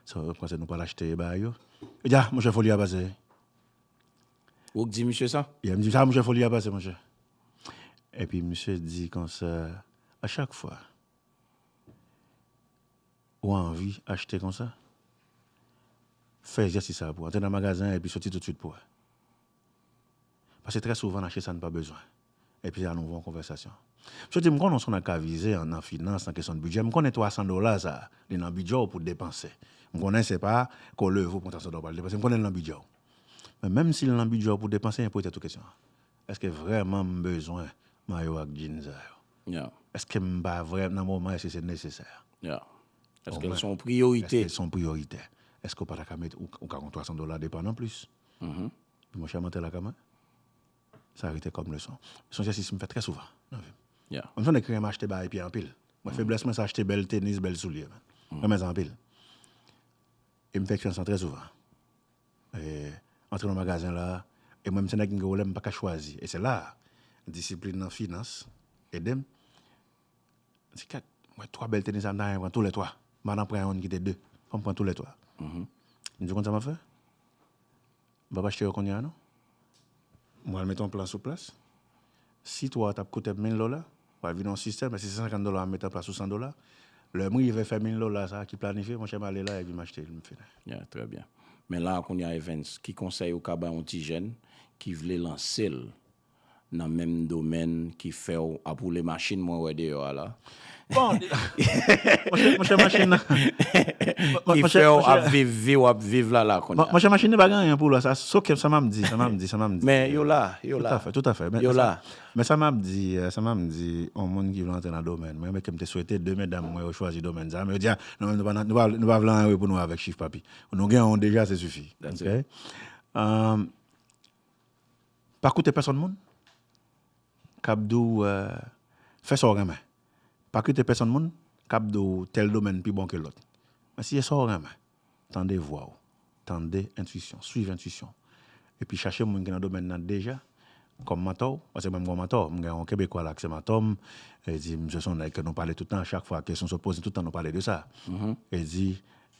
sa yo panse nou pral achte e bay yo. Yo di a, monchè foli a pase. Ou k di misye sa? Ye, m di misye sa, monchè foli a pase monchè. Epi misye di konsa, a chak fwa ou anvi achte konsa, fè egzèsis sa pou antre nan magazen an epi soti toutswit pou wè. Pase trè souvan n achte sa n pa bezwen. Epi se anouvo yon konvèsasyon. Misye di m, m konnen w s on ak avize nan finans, nan kesyon bidjè, m konnen 300 dola sa a, li nan bidjè w pou w depanse. M konnen se pa ke w leve ou pran 300 dola w pral depanse, m konnen li nan bidjè w. Men menm si li nan bidjè w pou w depanse, m poze tèt ou kesyon an. Eske vrèman m bezwen mayo ak djin sa yo? Eske m pa vrè nan moman eske se nesesè? Eske l s on priyorite? Eske l s on priyoritè? Eske w pa ta ka met ou ka gon 300 dola depann an plis? Di monchè m antre lakay mwen? Sa rete kòm leson. S on egzèsis m fè trè souvan nan vi m. Menm si on ekri m achte bagay pye anpil. Mwen feblès mwen se achte bèl tenis, bèl soulye. M renmen sa anpil. E m fè eksperyans lan trè souvan. antre nan magazen la a, e mwen m se nèg m gen pwoblèm m pa ka chwazi, e se la a disiplin nan finans ede m, m di kèt m wè 3 bèl tenis sa m ta renmen pran tou lè 3, m pa nan pran youn kite 2, fò m pran tou lè 3, m di ou konn sa m ap fè? M pap achte yo kounya non. Mwen al mete yon plan sou plas. Si 3 tap koute 1000 dola, pral vin yon sistèm, men si se 50 dola map mete an plas ou 100 dola. Lè m rive fè 1000 dola sa ki planifye, monchè m ale la epi m achte li m fini. Yeah, trè byen. Men la a kounya Evens, ki konsèy ou ka bay yon ti jèn ki vle lanse l Nan menm domèn ki fèw ap woule machin mwen wè deyò a la. Bon monchè machin nan. Ki fèw ap viv viw ap viv la la kounya. Monchè machin nan pa gen anyen pou lwa sa so ke sa map di sa map di sa map di. Men yo la yo la. Toutafè toutafè. Yo la. Men sa map di sa map di yon moun ki vle antre nan domèn mwen men kem te swete 2 medam mwen yo chwazi domèn sa men yo di non nou pa nou pa vle anyen wi pou nou avèk chif papi nou gen yon deja se sifi ok. Pa koute pèsòn moun k ap di w fè sa w renmen. Pa koute pèsòn moun k ap di w tèl domèn pi bon ke lòt. Men si se sa w renmen, tande vwa w, tande entuisyon, suiv entuisyon w. Epi chache moun ki nan domèn nan deja kòm mantò w. Paske mwen m gen yon mantò, m gen yon kebekwa la ki se mantò m. E di misye se yon nèg ke nou pale tout tan, chak fwa kesyon sot poze, tout tan nou pale de sa. E di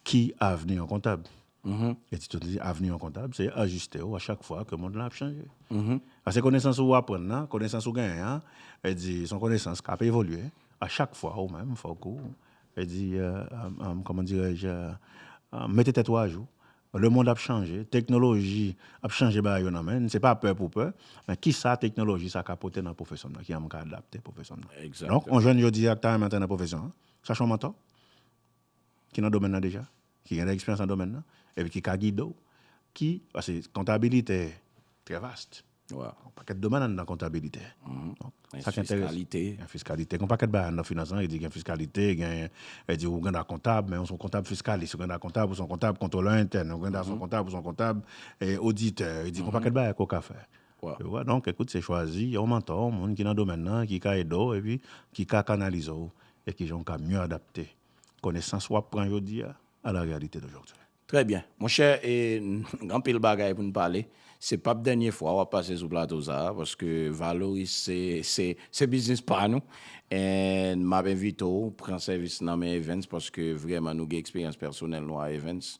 ki avni yon kontab? Mph. Eti Tony di, Avni yon kontab, se ajiste ou a chak fwa ke mond lan ap chanje. Mph. Pase konesans ou aprann nan, konesans ou genyen an, e di, son konesans k'ap evolye, a chak fwa ou menm fòk ou, e di, kòman dirè je, mete tèt ou ajou. Le mond ap chanje, teknoloji ap chanje bagay yo nan men, se pa pè pou pè, men ki sa teknoloji sa ka pote nan pwofesyon m nan, kijan m ka adapte pwofesyon m nan. Donk, yon jèn jodi a ki ta renmen antre nan pwofesyon an, chache yon mantò. ki nan domèn nan deja, ki gen de eksperyans nan domèn nan, epi ki ka gide w, ki, pase kontabilite trè vast, yon pakèt domèn anndan kontabilite, sa ki enterese, fiskalite, gen fiskalite, gen yon pakèt bagay anndan finans lan, yo di gen fiskalite, gen, yo di ou gen dwa kontab, men ou son kontab fiskalis, ou gen dwa kontab, ou son kontab kontwolè entèn, ou gen dwa son kontab, ou son kontab oditè, yo di gen yon pakèt bagay ke w ka fè, yo wè, donk, ekout, se chwazi yon mantò, yon moun ki nan domèn nan, ki ka ede w, epi ki ka kanalize w, E kijan w ka mye adapte konesans wap pran jodi a a la realite d'aujourd'hui? Trè byen. Monchè, e n anpil bagay pou n pale. Se pap dènye fwa wap pase sou plato sa a, paske Valoris se, se, se biznis pa nou. E n map envite w pran sèvis nan men Evens, paske vrèman nou gen eksperyans pèsonèl nou a Evens.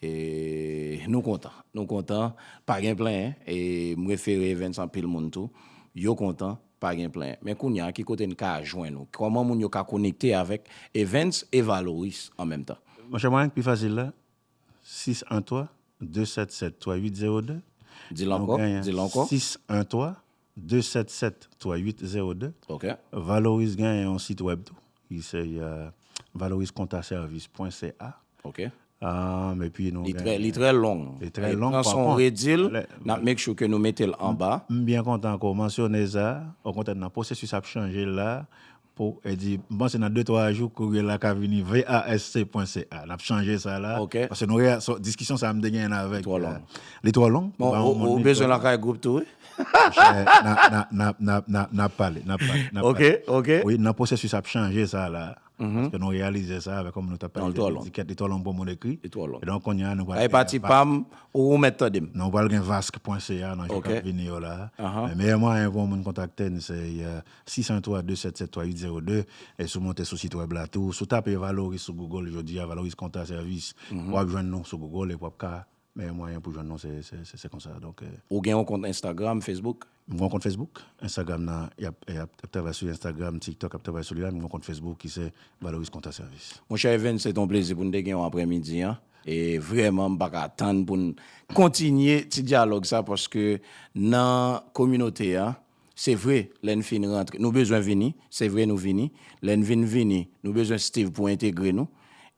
E nou kontan. Nou kontan. Pa gen plenyen. E m refere Evens anpil moun tou. Yo kontan. Pa gen plen. Men kounya ki kote n ka jwenn ou? Kòman moun yo ka konekte avèk Evens e Valoris an menm tan? Monchè mwayen k pi fasil la, 613 277 3802. Di l ankò, di l ankò. 613 277 3802. Ok. Valoris genyen yon sitwèb tou, Li se Valoris Konta Sèvis pwen CA. Ok. Epi nou gen. Li trè long. Li trè long. Pran son redil. N ap make sure ke nou mete l anba. M byen kontan ke w mansyone sa. Okontrè nan pwosesis ap chanje l la. Pou e di, m panse nan de twa jou kourye la ka vini VASC pwen CA. N ap chanje sa la. Ok. Paske nou, diskisyon sa a m te genyen avèk. Li twò long. Li twò long. Ou bezwen lakay gwoup tou wi. Nap pale, nap pale, nap pale. Ok, ok. Nan pwosesis ap chanje sa la, paske nou reyalize sa, avèk kòm nou tap pale de etiket, li twò long pou moun ekri. Li twò long. Kidonk kounye a nou pral gen vask. Sa e pati pa m, ou mèt tande m. Nou pral gen vask pwen ca nan jou kap vini yo la. Men meyè mwayen pou yon moun kontakte n se 603-277-3802. E si w monte sou sitwèb la tou, si w tape Valoris sou Google jodi a, Valoris Kontra Sèvis, wap jwenn nou sou Google epi wap ka Meyè mwayen pou jwenn nou se konsa donk. Ou gen yon kont Instagram, Facebook? M gen yon kont Facebook, Instagram nan yap travay sou Instagram, TikTok yap travay sou li la, m gen yon kont Facebook ki se Valoris Konta Sèvis. Monchè Evens se te yon plezi pou n te gen w aprè midi an e vrèman m pa ka tann pou n kontinye ti dyalòg sa paske nan kominote an Se vre, lè n fin rantre, nou bezwen vini. Se vre nou vini. Lè n vin vini, nou bezwen Steve pou entegre nou.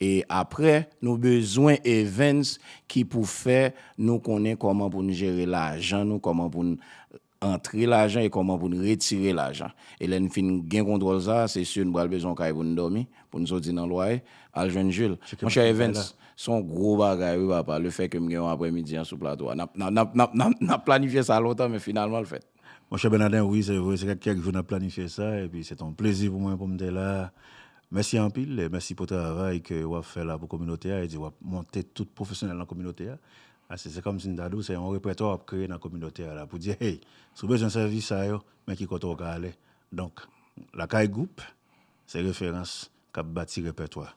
E apre, nou bezwen Evens ki pou fè nou konnen kòman pou n jere lajan nou, kòman pou n antre lajan e kòman pou n retire lajan. E lè n fin gen kontwòl sa a, se si nou pral bezwen yon kay pou n dòmi. Pou n soti nan lwaye, al jwenn Jules. Monchè Evens, se yon gwo bagay wi papa, le fè ke m gen yon aprèmidi an sou plato a. N ap planifye sa lontan men finalman l fèt. Monchè Bènadè, wi se vre, se fè kèk jou n ap planifye sa epi se te yon plezi pou mwen pou m te la. Mèsi anpil, mèsi pou travay ke w ap fè la pou kominote a, e di w ap monte tout pwofesyonèl nan kominote a. Ase se kòm si m ta di w se yon repètwa w ap kreye nan kominote a la pou di hey, si w bezwen sèvis sa yo, men ki kote w ka ale. Donk, Lakay Group. Se referans kap bati repètwa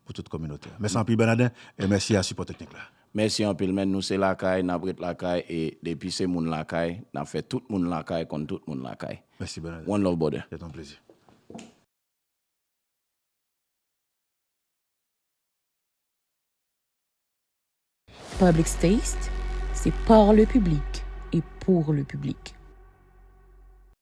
pou tout kominote a. Mèsi anpil Bènadè e mèsi a sipò teknik la. Mèsi anpil men nou se lakay nap ret lakay e depi se moun lakay nap fè tout moun lakay konn tout moun lakay. Mèsi Bènadè. One love brother. Se ton plezi. Public's Taste, c'est par le public et pour le public.